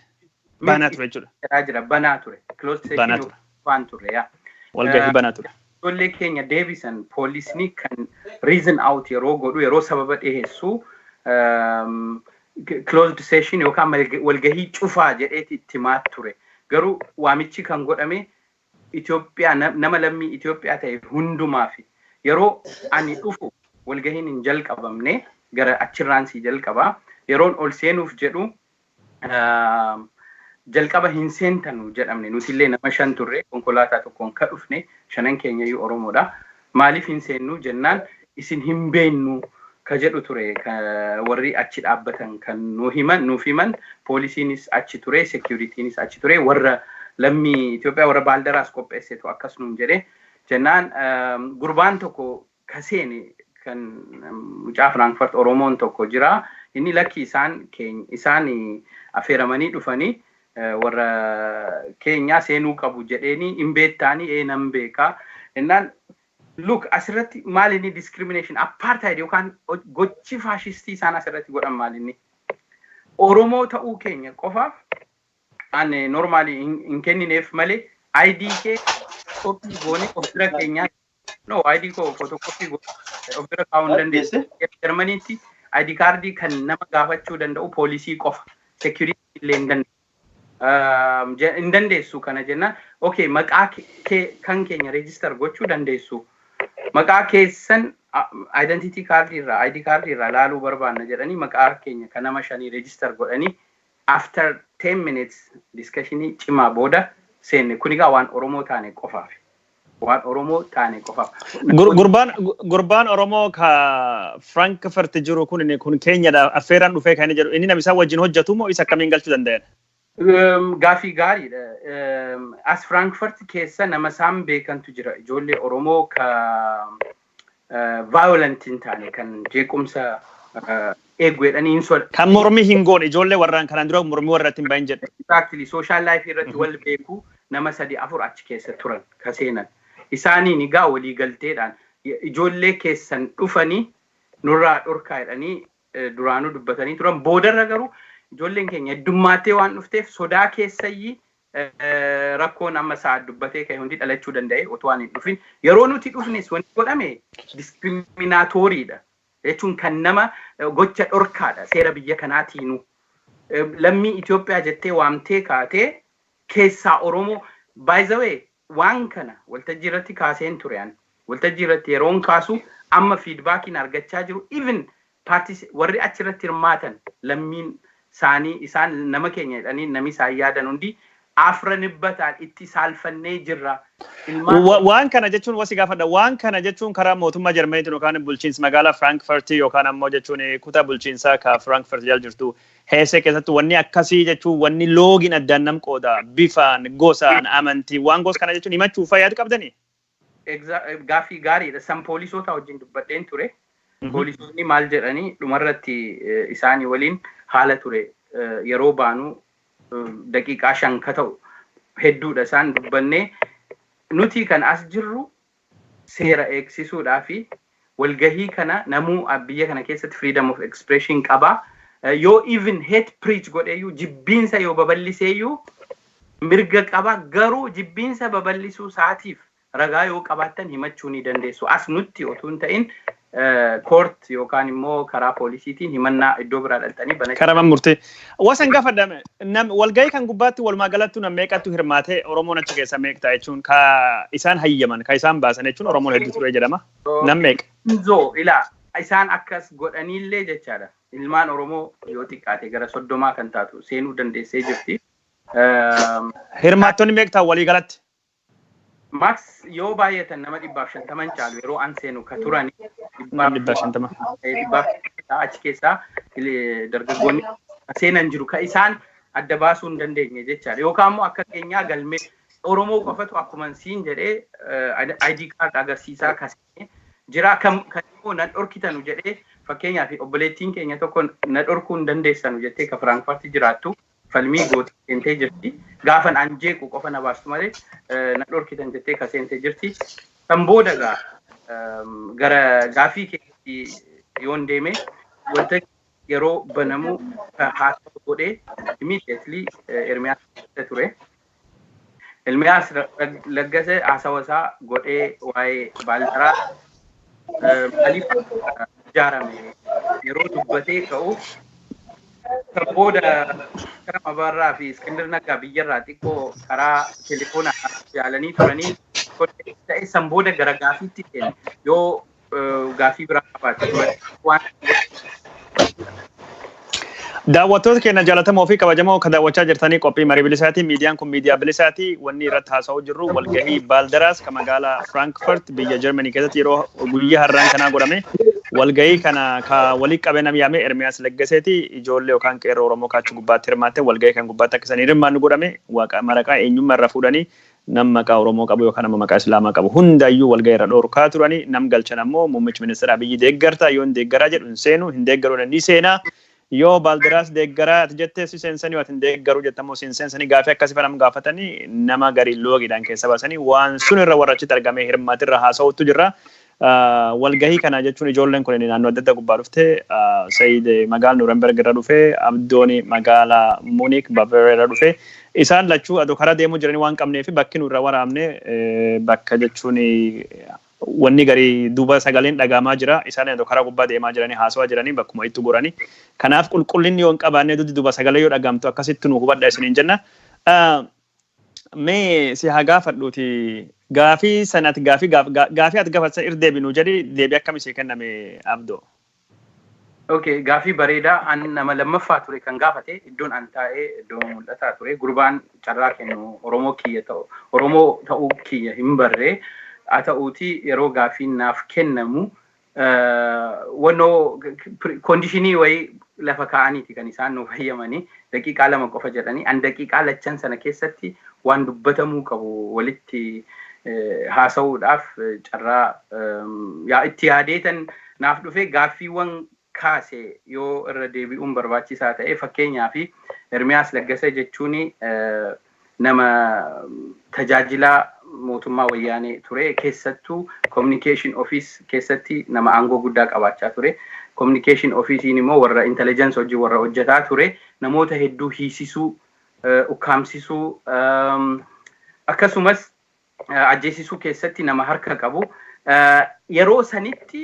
Banaa ture jechuudha. Jiraa jira banaa ture. Closed session Banaa ture. waan turre yaa. Walgahii Eh, banaa ture. Ijoollee keenya deebisan poolisni kan reason out yeroo godhu yeroo sababa dhiheessu ehm, closed session yookaan malga- walgahii cufaa jedheeti itti himaa ture. Garuu waamichi kan godhame Itoophiyaa na- nama lammii Itoophiyaa ta'e hundumaaf yeroo ani dhufu walgahiin hin jalqabamne gara achirraan si jalqaba yeroon ol seenuuf jedhu Jalqaba hin seentanu jedhamne. Nutillee nama shan turre. Konkolaataa tokkoon ka dhufne. Shanan keenyayyuu Oromoodha. Maaliif hin seennu jennaan isin hin beennu ka jedhu ture ka warri achi dhaabbatan kan nu himan nuuf himan. Poolisiinis achi ture, sekiuritiinis achi ture. Warra lammii Itoophiyaa warra Baaldaraas qopheessetu akkas nuun jedhe. Jennaan gurbaan tokko ka seene kan mucaa Frankfurt Oromoon tokko jira. Inni lakkii isaan keeny- isaan afeeramanii dhufanii eh, warra keenyaa seenuu qabu jedheeni hin beektaanii ee nan beekaa jennaan look asirratti maal inni discrimination apartheid yookaan ho- gochi faashistii isaan asirratti godhan maal inni Oromoo ta'uu keenya qofaaf an normaali hin hin kennineef malee ID kee koppii goonee of bira keenyaa No, ID koo footokooppii godhee of bira kaa'uu hin dandeessu. Jarmaniitti ID kaardii kan nama gaafachuu danda'u poolisii qofa. Sekiyuriitii illee hin dandeessu. Hin dandeessu kana jennaan, okay maqaa kan keenya reejistar gochuu dandeessu. Maqaa keessan identity kaardii irraa, ID kaardii irraa laaluu barbaanna jedhanii maqaa keenya kan nama shanii reejistar godhanii After ten minutes discussion cimaa booda seenne kun egaa waan Oromoo taane qofaaf waan Oromoo taane qofaaf. Gur- Gurbaan gu- gurbaan Oromoo ka Frankfurt jiru kun inni kun keenyadha affeeraan dhufee kan inni jedhu inni nama isaa wajjin hojjetu moo isa akkamiin galchuu danda'an? Ehm, Gaaffii gaariidha. Ehm, As Frankfurt keessa nama isaan beekantu jira. Ijoollee Oromoo ka violent hin taane kan jeequmsa eegu jedhanii hin soda. Kan mormi hin goone ijoollee warraan kanaan dura mormi warra ittiin bahin jettu. Exactly social life irratti wal beeku nama sadi afur achi keessa turan ka seenan. Isaaniin egaa walii galteedhaan ijoollee keessan dhufanii nurraa dhorkaa jedhanii duraanuu dubbatanii turan. Boodarra garuu ijoolleen keenya heddummaattee waan dhufteef sodaa keessayyii rakkoon amma sa'aad dubbatee ka'e hundi dhalachuu danda'e otoo ani hin dhufin. Yeroo nuti dhufnes wanti godhame diskiriminaatooriidha. Jechuun kan nama gocha dhorkaadha seera biyya kanaatiinu. Lammii Itoophiyaa jettee waamtee kaatee keessaa Oromoo by the way Waan kana waltajjii irratti kaaseen ture ani. Waltajjii irratti yeroon kaasu amma feedbackiin argachaa jiru even parties warri achi irratti hirmaatan lammiin saanii isaan nama keenya jedhanii nami isaan yaadan hundi afranibbataan itti saalfannee jirra. Ilmaan Wa, Oromoo. waan kana jechuun wasi gaafadha. Waan kana jechuun karaa mootummaa Jarmaniitiin yookaan bulchiinsa magaalaa Frankfurt yookaan ammoo jechuun kutaa bulchiinsaa ka Frankfurt jala jirtu Heesee keessatti wanni akkasii jechuun wanni loogiin addaan nam qooda bifaan, gosaan, amantiin waan gosa kana jechuun himachuuf faa yaad qabdanii? Exa- Gaaffii gaariidha. San poolisootaa wajjin dubbadheen ture. Mhm. Poolisoonni maal jedhanii dhumarratti eh, isaanii waliin haala ture eh, yeroo baanu eh, daqiiqaa shan ka ta'u hedduudha isaan dubbannee nuti kan as jirru seera eegsisuudhaa fi walgahii kana namuu biyya kana keessatti freedom of expression qaba. Yoo even hate preach godhee iyyuu jibbiinsa yoo babal'isee iyyuu mirga qaba. Garuu jibbiinsa babal'isuu isaatiif ragaa yoo qabaattan himachuu ni dandeessu. As nutti otuu hin ta'in koort yookaan immoo karaa poolisiitiin himannaa iddoo biraa dhaltanii banachuu Karaman murtee. Wasan gaafadha nam walgahii kan gubbaatti walumaa galattu nam meeqattu hirmaate Oromoon achi keessa meeqta jechuun ka isaan hayyaman ka isaan baasan jechuun Oromoon hedduu ture jedhama. Nam meeqa. Inzoo ilaa isaan akkas godhaniillee jechaadha. Ilmaan Oromoo yoo xiqqaate gara soddomaa kan taatu seenuu dandeessee jirti. Hirmaattonni meeqtaa walii galatti? Max yoo baay'atan nama dhibbaaf shantama hin caalu yeroo an seenu ka turan Nama dhibbaaf shantama. eh, dhibbaaf shantama achi keessaa eh, dargaggoonni ka seenan jiru ka isaan adda baasuu hin dandeenye jechaadha yookaan immoo akka keenyaa galmee Oromoo qofatu akkuma siin jedhee eh, ID card agarsiisaa ka seene jira kam kan immoo na dhorkitanu jedhee fakkeenyaaf obboleettiin keenya tokko na dhorkuu hin dandeessanu jettee ka Firaankifarti jiraattu falmii gootee seentee jirti. Gaafan an jeequ qofa na baastu malee na dhorkitan jettee ka seente jirti. Kan booda gaa gara gaaffii keetti yoon deeme wanta yeroo banamu haasaa godhee immediately Ermiyaas ture. Ilmiyaas Laggase haasawa isaa godhee waa'ee baaldaraa maaliif ijaarame yeroo dubbatee ka'u kan booda Karam Abaarraa fi Iskindir Naggaa biyyarraa xiqqoo karaa telefoonaa yaalanii turanii ta'e san booda gara gaafiitti seene yoo gaaffii biraa qabaate waan Daawwattoota keenya jaalatamoo fi kabajamoo kan daawwachaa jirtanii qophii marii bilisaati. Miidiyaan kun miidiyaa bilisaati. Wanni irratti haasa'uu jirru walgahii Baaldaraas kan magaalaa Firaankifaart biyya Jarmanii keessatti yeroo guyyaa har'aan kanaa godhame. Walgahii kana ka walii qabee nam yaame Ermiyaas Leggaseeti ijoollee yookaan qeerroo Oromoo kaachuu gubbaatti hirmaatte walgahii kan gubbaatti akka isanii hirmaannu godhame waaqa maraqaa eenyummaa irraa fuudhanii nam maqaa Oromoo qabu yookaan ammoo maqaa Islaamaa qabu hundaayyuu walgahii irraa dhoorkaa turani. Nam galchan ammoo Muummichi Ministeera Abiyyi deeggartaa? Yoo hin deeggaraa jedhu hin seenu, hin deeggaru jedhe ni seena. Yoo Baaldiraas deeggaraa ati jette si seensani, yoo ati hin deeggaru jette ammoo si hin seensani. Gaafii akkasii faa nam gaafatani nama gari loogiidhaan keessa baasani. Waan sun irra warra achitti argamee hirmaate irraa haasawuuttu jirra. Walgahii kana jechuun ijoolleen kun naannoo adda addaa gubbaa dhufte. Said magaala Nuremberg irra dhufe, Abdoon magaala Munich, Bavaria irra dhufe. Isaan lachuu adoo karaa deemuu jiranii waan qabneef bakki nu irraa waraabne bakka jechuun wanni garii duuba sagaleen dhagaamaa jira. Isaan adoo karaa gubbaa deemaa jiranii haasawaa jiranii bakkuma ittu gorani. Kanaaf qulqullinni yoo hin qabaanne dudduuba sagalee yoo dhagaamtu akkasitti nu hubadha isiniin jenna. mee si haa gaafadhuuti gaafii san ati gaafii gaaf- gaa- gaafii ati gaafatan irra deebi nuu jedhi deebi akkami sii kenname abdoo Okay, gaafii bareedaa an nama lammaffaa ture kan gaafate iddoon an taa'ee iddoo mul'ataa ture gurbaan carraa kennu Oromoo kiyya ta'u Oromoo ta'uu kiyya hin barre haa ta'uuti yeroo gaafiin naaf kennamu wannoo koondishinii wayii lafa kaa'aniiti kan isaan nuuf hayyamanii daqiiqaa lama qofa jedhanii an daqiiqaa lachan sana keessatti waan dubbatamuu qabu walitti haasa'uudhaaf carraa yaa itti yaadeetan naaf dhufee gaaffiiwwan kaase yoo irra deebi'uun barbaachisaa ta'e fakkeenyaa fi Ermiyaas Laggasa jechuun nama tajaajilaa mootummaa wayyaanee ture keessattuu communication office keessatti nama aangoo guddaa qabaachaa ture communication officein immoo warra intelligence hojii warra hojjetaa ture namoota hedduu hiisisuu ukkaamsisuu akkasumas ajjeesisuu keessatti nama harka qabu yeroo sanitti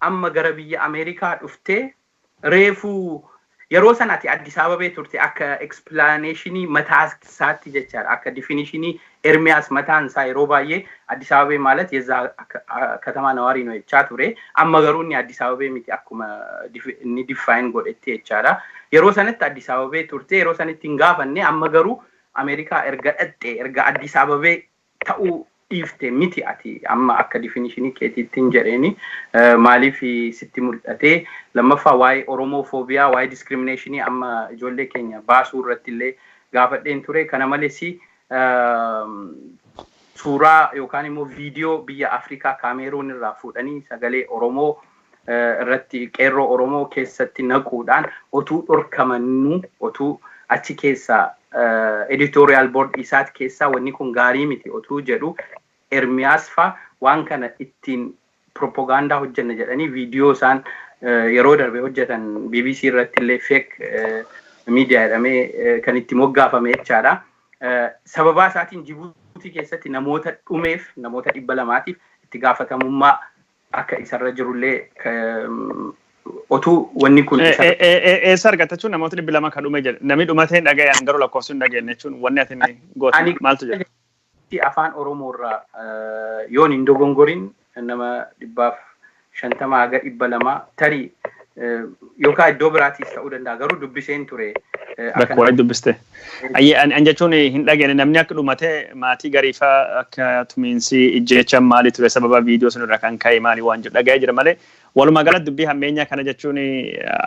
amma gara biyya America dhufte reefu yeroo san ati Addis Ababee turte akka explanation mataa isaatti jechaadha akka definition Ermiyaas mataan isaa yeroo baay'ee Addis Ababee maalat yezza katamaa nawaarii no jechaa ture amma garuu inni Addis Ababee miti akkuma inni define godhetti jechaadha yeroo sanatti Addis Ababee turte yeroo sanitti hin gaafanne amma garuu America erga dhaqxe erga Addis Ababee ta'uu dhiifte miti ati amma akka difinishinii keetiittin jedheeni maaliif sitti muldhatee lammaffaa waa'ee oromoo foobiyaa waa'ee diskiriminashinii amma ijoollee keenya baasuu irratti illee gaafadheen ture kana malesi suuraa yookaan immoo viidiyoo biyya afrikaa kaameeruun irraa fuudhanii sagalee oromoo irratti qeerroo Oromoo keessatti naquudhaan otuu dhorkamannuu otuu achi keessaa editorial board isaat keessaa wanni kun gaarii miti otuu jedhu Ermiyaas faa waan kana ittiin propaganda hojjenna jedhanii viidiyoo isaan yeroo darbe hojjetan BBC irratti illee fake miidiyaa jedhamee kan itti moggaafame jechaadha. Sababaa isaatiin Jibuutii keessatti namoota dhumeef namoota dhibba lamaatiif itti gaafatamummaa akka isarra jirullee otuu wanni kun isa Eessa argatta jechuun namoota dhibbi lama kan dhume jedhe. Namni dhumatee hin dhagayan garuu lakkoofsi hin dhageenye jechuun wanni ati inni goote Ani- maaltu jira? Itti afaan Oromoo irraa eh, yoon hin dogongorin nama dhibbaaf shantama haga dhibba lama tarii Yookaan iddoo biraatiis ta'uu danda'a garuu dubbiseen ture. Bakka waa'ee dubbiste. Ayyee an jechuun hin dhageenye namni akka dhumate maatii gariifaa akka tumiinsi ijjeechaan maali ture sababa viidiyoo sun irraa kan ka'e maali waan jedhu dhaga'ee jira malee walumaa galatti dubbii hammeenyaa kana jechuun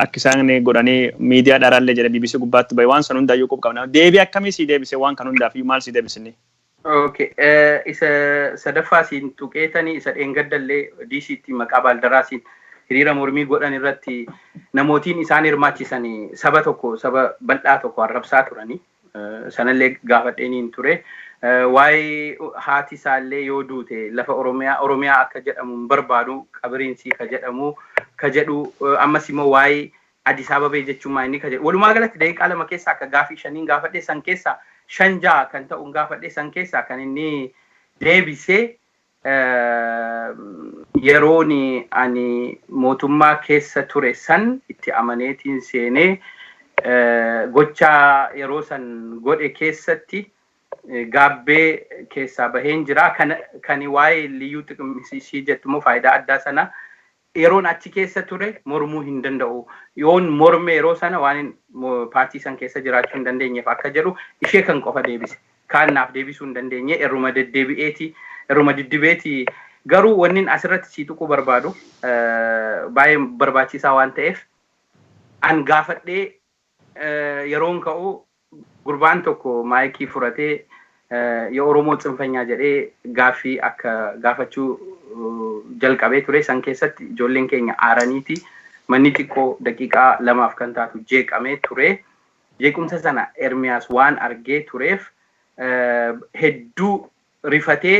akka isaan godhanii miidiyaa dharaallee jedhe BBC gubbaatti bahe waan san hundaayyuu qub qabna deebii akkamii sii deebise waan kan hundaaf iyyuu maal sii deebisinni Okay. eh, Isa sadaffaa siin tuqeetanii isa dheengaddallee DCtti maqaa baaldaraasiin hiriira mormii godhan irratti namootiin isaan hirmaachisanii saba tokko saba bal'aa tokko arrabsaa turanii eh, sanallee gaafadheeniin ture. Eh, Waa'ee haati isaallee yoo duute lafa Oromiyaa Oromiyaa akka jedhamu hin barbaadu qabiriin sii ka jedhamu ka jedhu eh, ammas immoo waa'ee Adis Ababee jechuun maa inni ka jedhu. Walumaa galatti daqiiqaa lama keessaa akka gaafii shaniin gaafadhe san keessaa shan ja'a kan ta'uun gaafadhe san keessaa kan inni deebise yeroon ani mootummaa keessa ture san itti amaneetiin seenee gocha yeroo san godhe keessatti gaabbee keessaa baheen jira. Kan waa'ee liyyuu xiqim jettu immoo faayidaa addaa sana yeroon achi keessa ture mormuu hin danda'u. Yoon morme yeroo sana waanin paartii san keessa jiraachuu hin dandeenyeef akka jedhu ishee kan qofa deebise. Kaan naaf deebisuu hin dandeenye irruma deddeebi'eeti irruma diddibeeti garuu wannin asirratti sii tuquu barbaadu baay'ee barbaachisaa waan ta'eef an gaafadhee yeroon ka'u gurbaan tokko maayikii furatee ya Oromoo tsinfanyaa jedhee gaaffii akka gaafachuu jalqabee ture san keessatti ijoolleen keenya aaraniiti manni xiqqoo daqiiqaa lamaaf kan taatu jeeqamee ture jeequmsa sana Ermiyaas waan argee tureef hedduu rifatee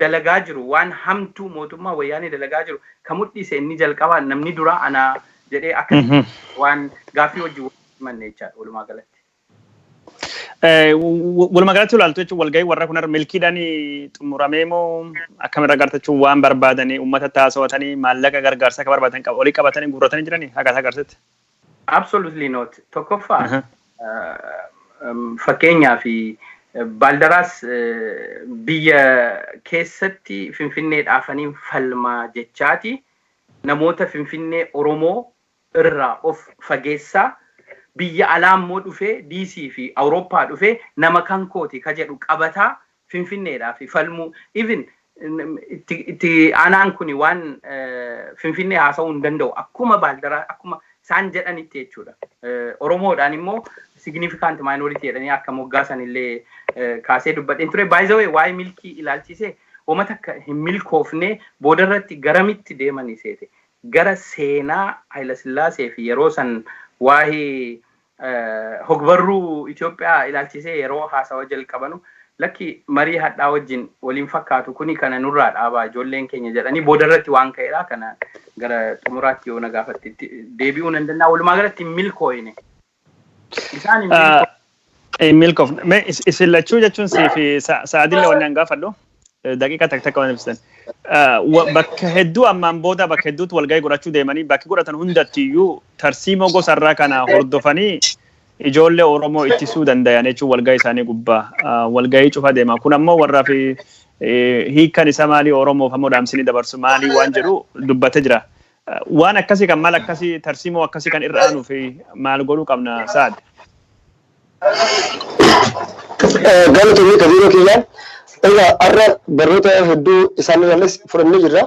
dalagaa jiru waan hamtuu mootummaan wayyaanee dalagaa jiru ka mudhiise inni jalqabaa namni duraa anaa jedhee akka waan gaaffii wajjin wal himanne jechaadha walumaa galatti. Walumaa galatti ilaaltu jechuun walgahii warra kun milkiidhaan xumuramee moo akkamirra agarta jechuun waan barbaadanii uummata taasawatanii maallaqa gargaarsa akka barbaadan olii qabatanii guurratanii jiranii akka agarsitti. Absolutely not. Tokkoffaa fakkeenyaa fi baaldaraas biyya keessatti finfinnee dhaafaniin falmaa jechaati namoota finfinnee oromoo irraa of fageessaa biyya alaa immoo dhufee diisii fi awurooppaa dhufee nama kan kooti ka jedhu qabataa Finfinneedhaaf falmuu even itti aanaan kun waan Finfinnee haasa'uu hin danda'u akkuma baaldaraa akkuma isaan jedhanitti jechuudha. Oromoodhaan immoo significant minority jedhanii akka moggaasan illee kaasee dubbadheen ture. By the way waa'ee milkii ilaalchisee homa takka hin milkoofne booda irratti garamitti deemanii seete gara seenaa Hayilasillaasee fi yeroo san waa'ee Hogbarruu Itoophiyaa ilaalchisee yeroo haasawa jalqabanu lakki marii hadhaa wajjin wal hin fakkaatu kuni kana nurraa dhaabaa ijoolleen keenya jedhanii boodarratti waan ka'edha. Kana gara xumuraatti yoo na gaafatte itti deebi'uu nan danda'a. Walumaa galatti hin milkooyne. Isaan hin milkooyne. Hin milkoofne. Mee is- isin lachuu jechuun siif sa- sa'aadillee wanni an gaafadhu. daqiiqa takka takka waan ibsitan. Bakka hedduu ammaan booda bakka hedduutti walgahii godhachuu deemanii bakki godhatan hundatti iyyuu tarsiimoo gosa irraa kana hordofanii ijoollee Oromoo ittisuu dandayan jechuun walgahii isaanii gubbaa walgahii cufa deema. Kun ammoo warraa fi hiikan isa maalii Oromoof ammoo dhaamsinii dabarsu maalii waan jedhu dubbatee jira. Waan akkasii kan maal akkasii tarsiimoo akkasii kan irra aanuu fi maal godhuu qabna saad? Galatoomii Kadiiroo kiyya. Egaa har'a barnoota hedduu isaan irraallees fudhannee jirra.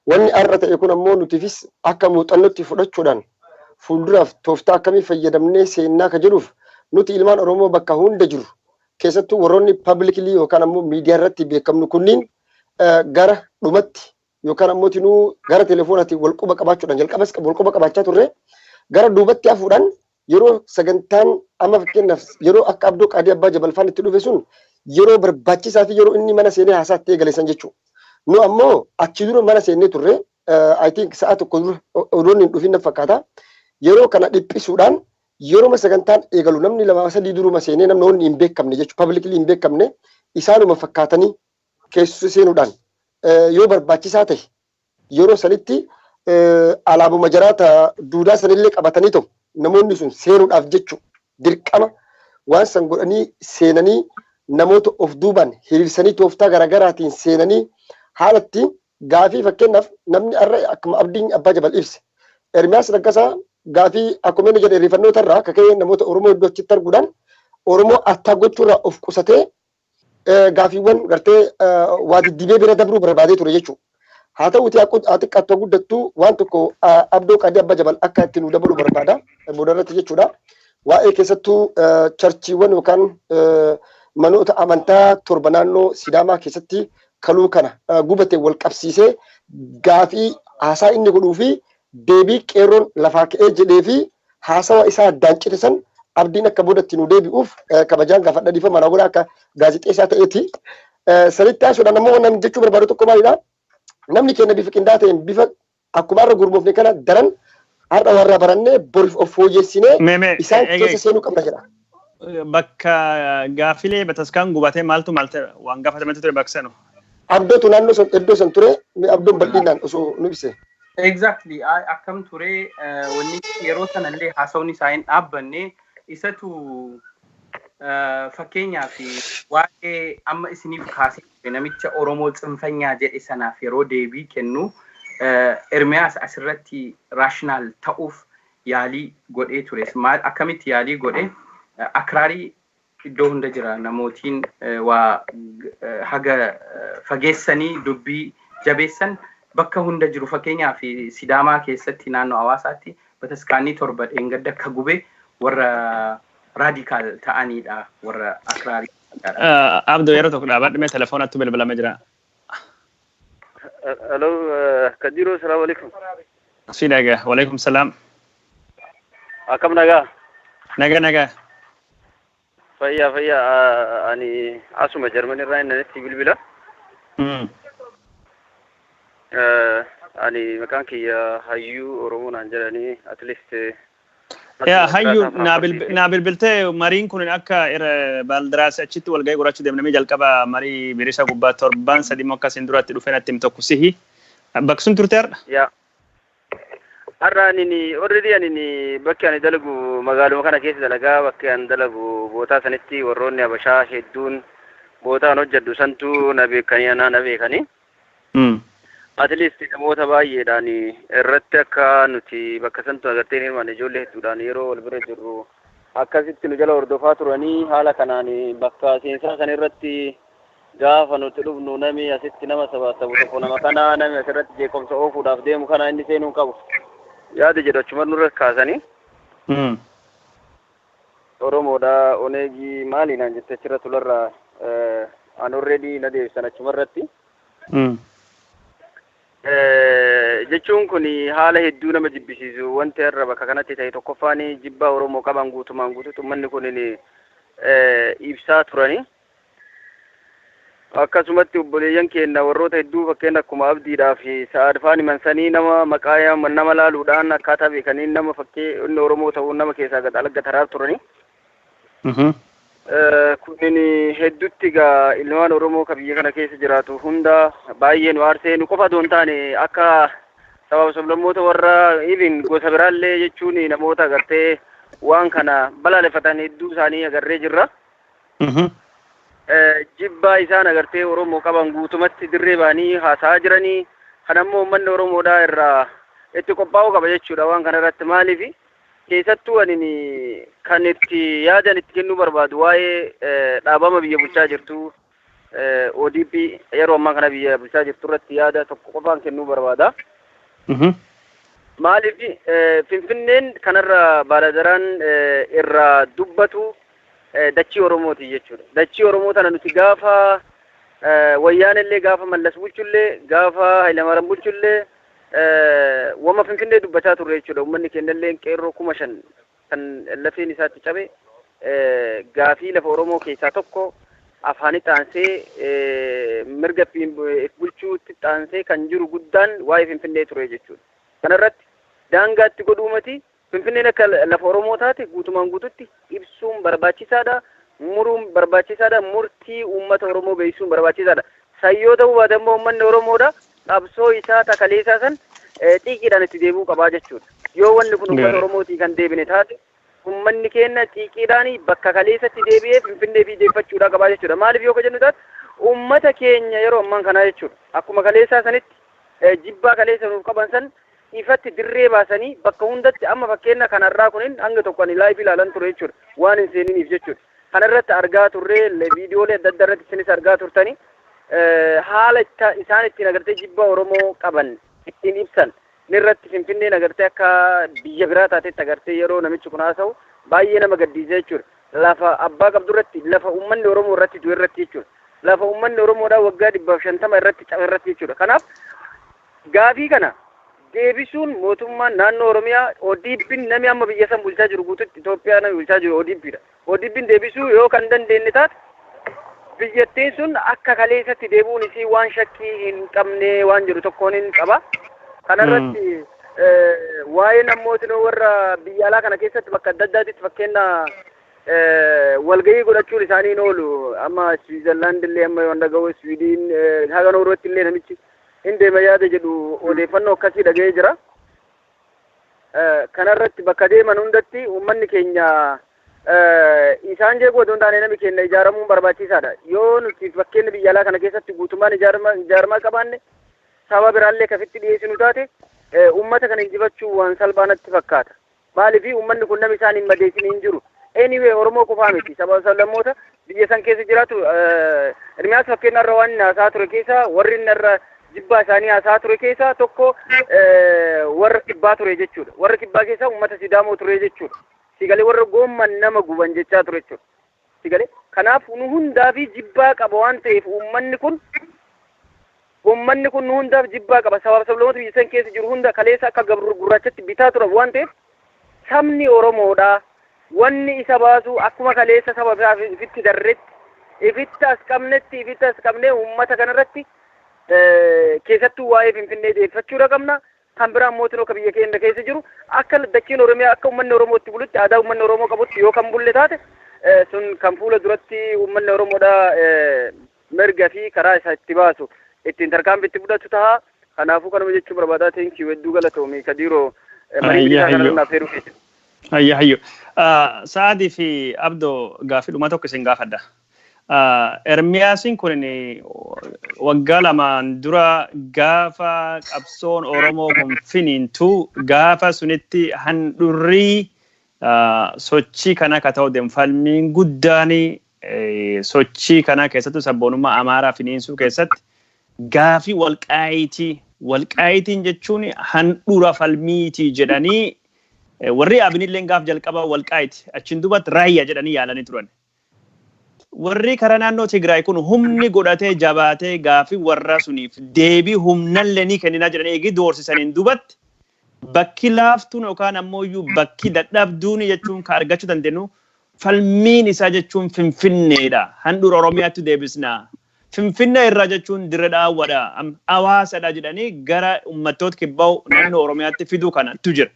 Wanni har'a ta'e kun ammoo nutiifis akka muuxannootti fudhachuudhaan fuulduraaf tooftaa akkamii fayyadamnee seennaa ka jedhuuf nuti ilmaan Oromoo bakka hunda jirru keessattuu warroonni publicly yookaan ammoo miidiyaa irratti beekamnu kunniin gara dhumatti yookaan ammoo tinuu gara telefoonaatiin wal quba qabaachuudhaan jalqabas wal quba qabaachaa turre gara duubatti hafuudhaan yeroo sagantaan amma fakkeenyaaf yeroo akka Abdoo Qaadii Abbaa Jabal faan itti dhufe sun yeroo barbaachisaa fi yeroo inni mana seenee haasaa itti eegale san jechuudha. Nu ammoo achi dura mana seennee turre I think sa'a tokko dura odoonni hin dhufin na fakkaata. Yeroo kana dhiphisuudhaan yeroo sagantaan eegalu namni lama sadii duruma seenee namni onni hin beekamne jechuudha. Pabliklii hin beekamne isaanuma fakkaatanii keessa seenuudhaan yoo barbaachisaa ta'e Yeroo sanitti alaabuma jaraa ta duudaa sanillee qabatanii to namoonni sun seenuudhaaf jechu dirqama waan san godhanii seenanii namoota of duubaan hiriirsanii tooftaa garaagaraatiin seenanii haalatti gaafii fakkeenyaaf namni har'a akkuma abdiin abbaa jabal ibse Ermiyaas Laggasaa gaafii akkuma inni jedhe irrifannoota irraa kaka'ee namoota Oromoo hedduu achitti arguudhaan Oromoo attaa gochuurraa of qusatee gaafiiwwan gartee waa diddibee bira dabruu barbaadee ture jechuudha. Haa ta'uutii haa xiqqaattu guddattu waan tokko abdoo qadii abba jabal akka itti nu dabalu barbaada booda irratti jechuudha. Waa'ee keessattuu charchiiwwan yookaan manoota amantaa torba naannoo Sidaamaa keessatti kaluu kana gubate wal qabsiisee gaafii haasaa inni godhuu fi deebii qeerroon lafaa ka'ee jedhee fi haasawa isaa addaan cite san abdiin akka boodatti nu deebi'uuf kabajaan gaafadha dhiifama na godha akka gaazexeessaa ta'eeti. Sanitti haasuudhaan ammoo namni jechuu barbaadu tokko maalidha? Namni keenya bifa qindaa'aa ta'een bifa akkuma har'a gurmoofne kana daran har'a warra barannee boriif of fooyyessinee isaan keessa seenuu qabna jedha. bakka gaaffilee bataskaan gubatee maaltu maalte waan gaafatametti ture baksanu. Abdootu naannoo san iddoo san ture mee abdoon bal'inaan osoo nu ibse. Exactly akkam ture wanni yeroo sanallee haasawni isaa hin dhaabbanne isatu fakkeenyaa fi waa'ee amma isiniif kaasee ture namicha Oromoo tsinfanyaa jedhe sanaaf yeroo deebii kennu Ermiyaas asirratti raashinaal ta'uuf yaalii godhee ture maal akkamitti yaalii godhe akraarii iddoo hunda jira namootiin waa haga fageessanii dubbii jabeessan bakka hunda jiru fakkeenyaa fi sidaamaa keessatti naannoo hawaasaatti bataskaanii torba dheengadda akka gube warra raadikaal ta'aniidha warra akraarii. Abdoo yeroo tokko dhaabadhu mee telefoonattu bilbilama jira. Hello, eh, Kajiro, salam alaikum. Si naga. Walaikum salam. Akkam nagaa? Naga naga. Fayyaa fayyaa ah, ani asuma Jarman irraa innanitti bilbila. Mm. Eh, Ani maqaan kiyya hayyuu Oromoo naan jedhanii at least eh, Yaa hayyu naa bilbiltee mariin kun akka baaldiraas achitti walgahii qorachuu deemnamee jalqaba marii birisa gubbaa torbaan sadii immoo akkasiin duratti dhufee natti him tokko sihi bakka sun turte har'a. Yaa har'a ani orredi ani bakki ani dalagu magaaluma kana keessa dalagaa bakki ani dalagu bootaa sanitti warroonni habashaa hedduun bootaan hojjedhu santu na beekanii anaa na beekanii. At least namoota baay'eedhaan irratti akka nuti bakka santu agartee hin hirmaanne ijoollee hedduudhaan yeroo wal bira jirru akkasitti nu jala hordofaa turanii haala kanaan bakka seensaa san irratti gaafa nuti dhufnu nami asitti nama sabaasabu tokko nama kana nami asirratti jeequmsa oofuudhaaf deemu kana inni seenuu hin qabu yaada jedhu achuma nurra kaasanii Oromoodha oneg maali naan jette achirra tularra an already na deebisan achumarratti jechuun kun haala hedduu nama jibbisiisu wanti har'a bakka kanatti ta'e tokkoffaan jibbaa Oromoo qaban guutumaan guututti ummanni kun ibsaa turani. Akkasumatti obboleeyyan keenna warroota hedduu fakkeenna akkuma Abdiidhaa fi Sa'aad faan himan sanii nama maqaa yaaman nama laaluudhaan akkaataa beekaniin nama fakkee inni Oromoo ta'uun nama keessaa gad alagga taraa turani. Kunin heddutti egaa ilmaan Oromoo ka biyya kana keessa jiraatu hunda baay'ee nu aarsee nu qofa doon taane akka sabaaf sablammoota warra even gosa biraallee jechuun namoota agartee waan kana balaaleffatan hedduu isaanii agarree jirra. Mhm. eh, jibbaa isaan agartee Oromoo qaban guutumatti dirree ba'anii haasa'aa jiranii kan ammoo uummanni Oromoodhaa irraa itti qophaa'uu qaba jechuudha waan kana irratti maaliif keessattuu ani ni- kan itti yaadan itti kennuu barbaadu waa'ee eh, dhaabama biyya bulchaa jirtu eh, ODP yeroo ammaa kana biyya bulchaa jirtu irratti yaada tokko qofaan kennuu barbaada. Mhm. Maaliif eh, Finfinneen kanarra baaladaraan eh, irraa dubbatu eh, dachii Oromooti jechuudha. Dachii Oromoo tana nuti gaafa eh, wayyaanellee gaafa mallas bulchullee gaafa Hayilamaram bulchullee eh, wama Finfinnee dubbachaa turre jechuudha. Uummanni kennallee qeerroo kuma shan kan lafeen isaatti cabe eh, gaafii lafa Oromoo keessaa tokko afaanii xaansee eh, mirga ittiin bu- if bulchuutti xaansee kan jiru guddaan waa'ee Finfinnee ture jechuudha. Kanarratti daangaatti godhuumati Finfinneen akka lafa Oromoo taate guutumaan guututti ibsuun barbaachisaadha, muruun barbaachisaadha, murtii uummata Oromoo beeksisuun barbaachisaadha. San yoo ta'uu baate ammoo uummanni Oromoodha qabsoo isaa ta kaleessaa san xiiqiidhaan itti deebi'uu qabaa jechuudha. Yoo wanni kun uummata Gaarii. Oromootii kan deebine taate uummanni keenya xiiqiidhaan bakka kaleessatti deebi'ee Finfinnee fi deeffachuudhaa qabaa jechuudha. Maaliif yoo ka jennu taate uummata keenya yeroo ammaan kanaa jechuudha. Akkuma kaleessaa sanitti eh, jibbaa kaleessa nuuf qaban san ifatti dirree baasanii bakka hundatti amma fakkeenna kan har'aa kunin hanga tokko ani live ilaalan ture jechuudha. Waan hin seeniniif jechuudha. Kana irratti argaa turree viidiyoolee adda addaa irratti isinis argaa turtanii haala itti isaan ittiin agartee jibba Oromoo qaban ittiin ibsan irratti Finfinneen agartee akka biyya biraa taatetti agartee yeroo namichi kun haasa'u baay'ee nama gaddiisa jechuudha. Lafa abbaa qabdu irratti lafa uummanni Oromoo irratti du'e irratti jechuudha. Lafa uummanni Oromoodhaa waggaa dhibbaaf shantama irratti cabe irratti jechuudha. Kanaaf Gaafii kana deebisuun mootummaan naannoo Oromiyaa ODPn nami amma biyya san bulchaa jiru guututti Itoophiyaa nami bulchaa jiru ODP dha. ODPn deebisuu yoo kan dandeenne taate biyyattiin sun akka kaleessatti deebi'uun isii waan shakkii hin qabne waan jedhu tokkoonin qaba. Kanarratti eh, waa'een ammootinoo warra biyya alaa kana keessatti bakka adda addaatitti fakkeenya eh, walgahii godhachuun isaanii hin oolu. Amma Swiizerlaand illee amma yoon dhaga'u Swiidiin eh, haga Noorweetti illee namichi hin deema yaada jedhu odeeffannoo akkasii dhaga'ee jira. Kanarratti bakka deeman hundatti uummanni keenya isaan jeequu otoo hin taane namni keenya ijaaramuun barbaachisaadha. Yoo nuti fakkeenyi biyya alaa kana keessatti guutummaan ijaaramaa qabaanne saba biraallee kafitti dhiyeessinu taate uummata kana injifachuu waan salphaa natti fakkaata. Maalifi ummanni kun nami isaan hin madeessini hin jiru. Anyway Oromoo qofaa miti saba sablammoota biyya san keessa jiraatu Ermiyaas fakkeenya irra waan inni haasaa ture keessa warri inni irra jibbaa isaanii haasaa ture keessa tokko warra kibbaa ture jechuudha. Warra kibbaa keessa ummata Sidaamoo ture jechuudha. Sigalee warra goomman nama guban jechaa ture jechuudha. Si gale? Kanaaf nu hundaafii jibbaa qaba waan ta'eef uummanni kun uummanni kun nu hundaaf jibbaa qaba sabaaf sablamoota biyya san keessa jiru hunda kaleessa akka gabru gurraachatti bitaa turan waan ta'eef sabni Oromoodha wanni isa baasu akkuma kaleessa saba isaa ifitti darretti ifitti as qabnetti ifitti as qabnee uummata kanarratti keessattuu waa'ee Finfinnee deeffachuudha qabna Kan biraan mootinoo ka biyya keenna keessa jiru akka dachiin Oromiyaa akka ummanni Oromoo itti bulutti aadaa ummanni Oromoo qabutti yoo kan bulle taate sun kan fuula duratti ummanni Oromoodha mirga fi karaa isa itti baasu ittiin tarkaanfii itti fudhatu taha. Kanaafuu kanuma jechuu barbaadaa thank you hedduu galatoomi Kadiiroo marii bilisaa kana irraa affeeruu keessa. Ayya hayyo. Sa'aadii fi Abdo gaafidhuma tokko isin gaafadha. Ermiyaasiin kun waggaa lamaan dura gaafa qabsoon Oromoo kun finiintu gaafa sunitti handhurrii sochii kana akka ta'u deemu falmiin guddaan sochii kana keessattuu sabboonummaa Amaaraa finiinsuu keessatti gaafii walqaayitii walqaayitiin jechuun handhura falmiitii jedhanii warri abinillee gaaf jalqaba walqaayiti achiin duubatti raayya jedhanii yaalanii turan. Warrii karaa naannoo Tigraay kun humni godhatee jabaatee gaafii warraa suniif deebii humnallee ni kenninaa jedhanii eegii doorsisaniin dubatti bakki laaftuun yookaan ammoo iyyuu bakki dadhabduun jechuun ka argachuu dandeenyu falmiin isaa jechuun Finfinneedha. Handhuura Oromiyaatti deebisna. Finfinne irraa jechuun Dirre Dhaawwa dha, Hawaasa dha jedhanii gara ummattoot kibba naannoo Oromiyaatti fiduu kana tu jira.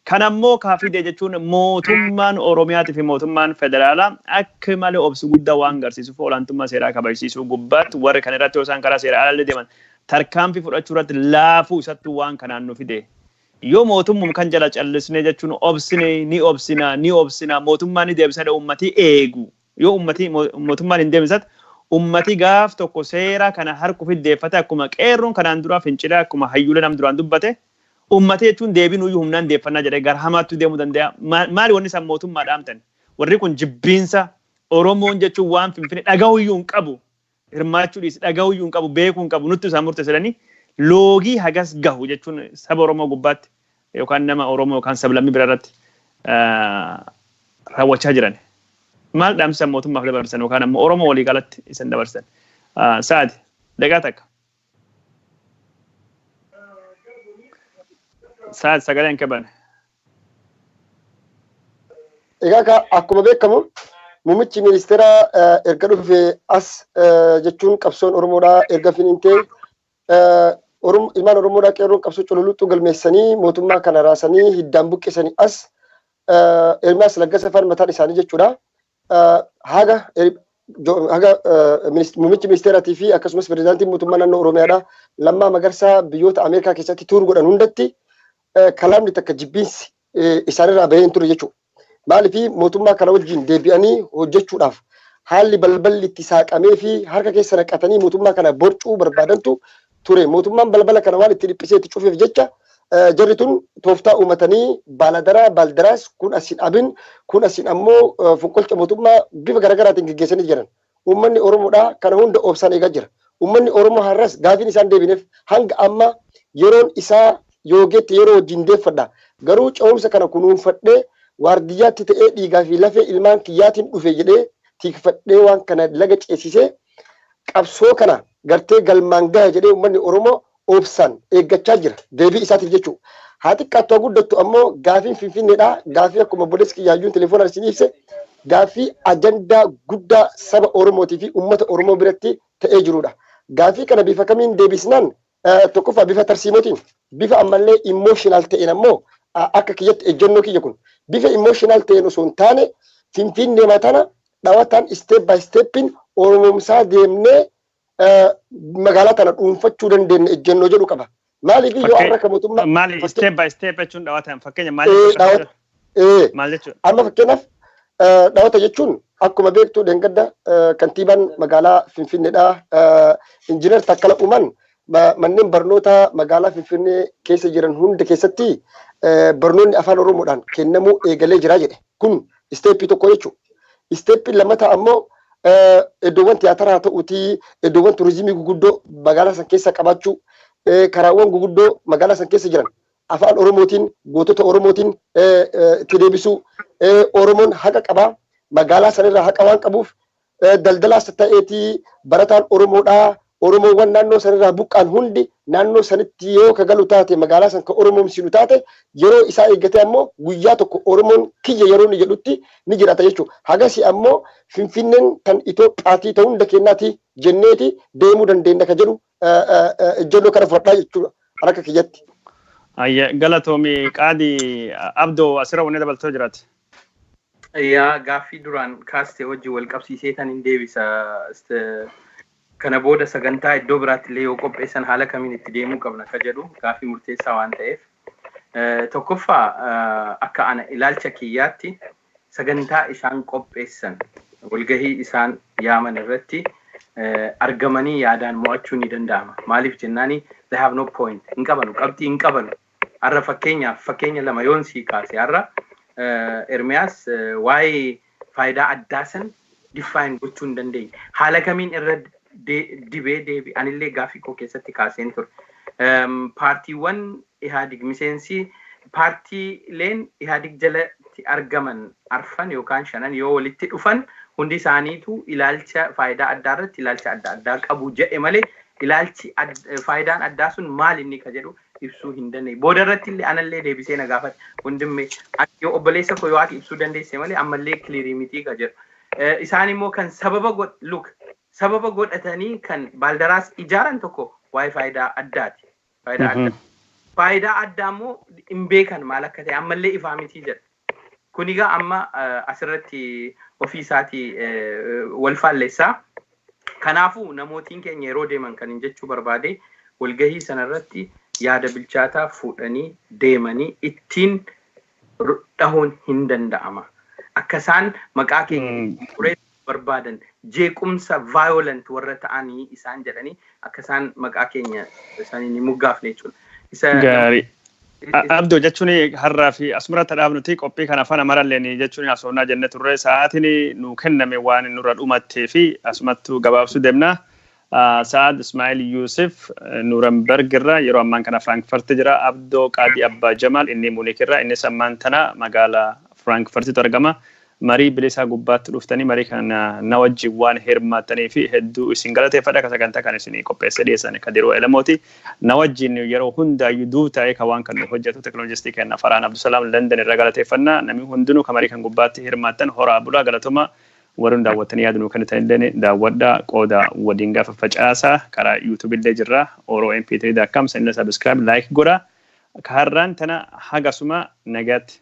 Kan ammoo ka fide jechuun mootummaan Oromiyaati fi mootummaan federaalaa akk male obsu guddaa waan garsiisuuf olaantummaa seeraa kabajsiisuu gubbaatti warri kan irratti yoo isaan karaa seera alaallee deeman tarkaanfii fudhachuu irratti laafuu isattuu waan kanaan nu fide. Yoo mootummum kan jala callisnee jechuun obsine ni obsina ni obsina mootummaa ni deebisa jedhe ummatii eeguu. Yoo ummatii mootummaan hin deemsat ummati gaaf tokko seera kana harkuuf iddeeffate akkuma qeerroon kanaan duraa fincilaa akkuma hayyuulee nam duraan dubbate ummati jechuun deebinuuyyuu humnaan deeffannaa jedhee gara hamaattuu deemuu danda'a. Maali wanni isaan mootummaa dhaamtan? Warri kun jibbiinsa Oromoon jechuun waan finfine dhagahuyyuu hin qabu. hirmaachuu dhiisi dhagahuu iyyuu hin qabu beekuu hin qabu nuttu isaan murteessa jedhanii loogii hagas gahu jechuun saba Oromoo gubbaatti yookaan nama Oromoo yookaan sablammii bira irratti raawwachaa jiran. Maal dhaamsisan mootummaaf dabarsan yookaan ammoo Oromoo walii galatti isan dabarsan. Sa'aati daqiiqaa takka. Sa'aati sagalee hin qaban. Egaa ka- akkuma beekamu muummichi ministeera eh, erga dhufe as eh, jechuun qabsoon Oromoodhaa erga finiintee eh, Orom- ilmaan Oromoodhaa qeerroon qabsoo cululuxxuu galmeessanii mootummaa kana raasanii hiddaan buqqisanii as eh, Ermiyaas Laggasa faan mataan isaanii jechuudha. haga haga muummichi ministeeraatii fi akkasumas pirezidaantiin mootummaa naannoo Oromiyaadha. Lammaa Magarsaa biyyoota Ameerikaa keessatti tuur godhan hundatti kalaamni takka jibbiinsi isaanirraa bahee hin ture jechuudha. Maaliif mootummaa kana wajjin deebi'anii hojjechuudhaaf haalli balballi itti saaqamee fi harka keessa naqatanii mootummaa kana borcuu barbaadantu ture. Mootummaan balbala kana waan itti dhiphisee itti cufeef jecha jarri tun tooftaa uumatanii baaladaraa baaldaraas kun asiin abin kun asiin ammoo fonqolcha mootummaa bifa garaagaraatiin geggeessanii jiran. Uummanni Oromoodhaa kana hunda obsaan eegaa jira. Uummanni Oromoo har'as gaafiin isaan deebineef hanga amma yeroon isaa yoogeetti yeroo wajjin deeffadha. Garuu ce'umsa kana kunuunfadhee waardiyyaatti ta'ee dhiigaa fi lafee ilmaan kiyyaatiin dhufe jedhee tiikfadhee waan kana laga ceesisee Qabsoo kana gartee galmaan gaha jedhee ummanni Oromoo obsaan eeggachaa jira. Deebii isaatiif jechuu. Haa xiqqaattu haa guddattu ammoo gaafiin Finfinneedhaa gaaffii akkuma obboleessi kiyya hayyuun telefoonaan isin ibse gaaffii ajandaa guddaa saba Oromootii fi ummata Oromoo biratti ta'ee jiruudha. Gaaffii kana bifa kamiin deebisnaan Eh, Tokkoffaa bifa tarsiimootiin bifa ammallee emotional ta'een ammoo a- akka kiyyatti ejjennoo kiyya kun bifa emotional ta'een osoo hin taane finfinnee matana dhawataan step by stepin oromomsaa deemnee eh, magaalaa tana dhuunfachuu dandeenya ejjennoo jedhu qaba. Maaliif yoo Fakkee- har'a kan mootummaa Maali fakkee- step by step jechuun dhawataan fakkeenya maaliif Eh, akka dhawa- Ee, Maal jechuudha? Amma fakkeenyaaf eh, dhawata jechuun akkuma beektu dheengadda eh, kantiibaan magaalaa Finfinneedha. Eh, Injiinar Takkala Uumaan ma- manneen barnootaa magaalaa Finfinnee keessa jiran hunda keessatti eh, barnoonni afaan Oromoodhaan kennamuu eegalee jira jedhe. Kun isteeppii tokko jechuudha. Isteeppii lammataa ammoo eh, iddoowwan tiyaataraa haa ta'uutii iddoowwan turizimii guguddoo magaalaa san keessa qabaachuu eh, karaawwan guguddoo magaalaa san keessa jiran Afaan Oromootiin, gootota Oromootiin itti deebisuu. Oromoon haqa qaba. Magaalaa sana irraa haqa waan qabuuf daldalaas ta'eeti barataan Oromoodhaa Oromoowwan naannoo sana irraa buqqaan hundi naannoo sanitti yoo ka galu taate magaalaa san ka Oromoomsinu taate yeroo isaa eeggatee ammoo guyyaa tokko Oromoon kiyya yeroo inni jedhutti ni jiraata jechuudha. Hagasii ammoo Finfinneen tan Itoophiyaatii ta hunda keennaati jenneeti deemuu dandeenna ka jedhu ejjennoo kana fudhadhaa jechuudha kan akka kiyyatti. Ayya galatoomi qaadi abdoo asirra wanni dabaltoo jiraate. Yaa gaaffii duraan kaaste wajji wal qabsiisee tan hin deebisa. Kana booda sagantaa iddoo biraatti illee yoo qopheessan haala kamiin itti deemuu qabna ka jedhu gaaffii murteessaa waan ta'eef. Tokkoffaa akka ana ilaalcha kiyyaatti sagantaa isaan qopheessan, walgahii isaan yaaman irratti argamanii yaadaan mo'achuun ni danda'ama. Maaliif jennaani they have no point. Hin qabanu, qabxii hin qabanu. Har'a fakkeenyaaf fakkeenya lama yoon sii kaase har'a Ermiyaas waa'ee faayidaa addaa san define gochuu hin dandeenye. Haala kamiin irra dibee deebi anillee gaaffii koo keessatti kaaseen ture. Paartiiwwan Ihaadig miseensi paartiileen Ihaadig jalatti argaman arfan yookaan shanan yoo walitti dhufan hundi isaaniitu ilaalcha faayidaa addaa irratti ilaalcha adda addaa qabu jedhe malee ilaalchi faayidaan addaa sun maal inni ka jedhu ibsuu hin dandeenye. Booda irratti illee anallee deebisee na gaafate wondimme ati yoo obboleessa koo yoo ati ibsuu dandeesse malee ammallee kiliirii mitii ka jedhu. Isaan immoo kan sababa god look sababa godhatanii kan baaldaraas ijaaran tokko waa'ee faayidaa addaati. Faayidaa Mhm. addaa. Faayidaa addaa immoo hin beekan maal akka ta'e ammallee ifaa mitii jedha. Kun egaa amma eh, asirratti ofii isaatii eh, wal faallessa. Kanaafuu namootiin keenya yeroo deeman kan hin jechuu barbaade walgahii sanarratti yaada bilchaataa fuudhanii deemanii ittiin ru- dhahuun hin danda'ama. Akka isaan maqaa keenya Mm. xureessan barbaadan jeequmsa violent warra ta'ani isaan jedhanii akka isaan maqaa keenya isaaniin hin moggaafne jechuudha. Isa nam- Gaarii. i- A- is- Abdoo jechuun har'aa fi asumratti dhaabnuti qophii kana afaan amaralleen jechuun haasofnaa jenne turre sa'aatiin nu kenname waan nurra dhumattee fi asumattu gabaabsuu deemna. Sa'aad Ismaa'il Yuusif Nuuramberg irraa, yeroo ammaan kana Frankfurt jira. Abdoo Qaadii Abbaa Jamaal, inni Munich irraa, innis ammaan tana magaala Frankfurtitti argama. Marii bilisaa gubbaatti dhuftanii marii kana na wajjin waan hirmaattaniif hedduu isin galateeffadha. Ka sagantaa kan isin qopheessee dhiyeessan Kadiroo Elemooti. Na wajjin yeroo hundaayyuu duub taa'ee ka waan kan nu hojjetu teknolojistii kenna Farhaan Abdusalaam London irraa galateeffanna. Namni hundinuu ka marii kan gubbaatti hirmaattan horaa bulaa galatomaa Warri nu daawwattanii yaada nuu kennitan illeen daawwadhaa, qoodaa, waliin gaa faffacaasaa. Karaa YouTube illee jirra. OroMP3.com seenaa subscribe, like godhaa. Ka har'aan tana haga asuma nagaatti.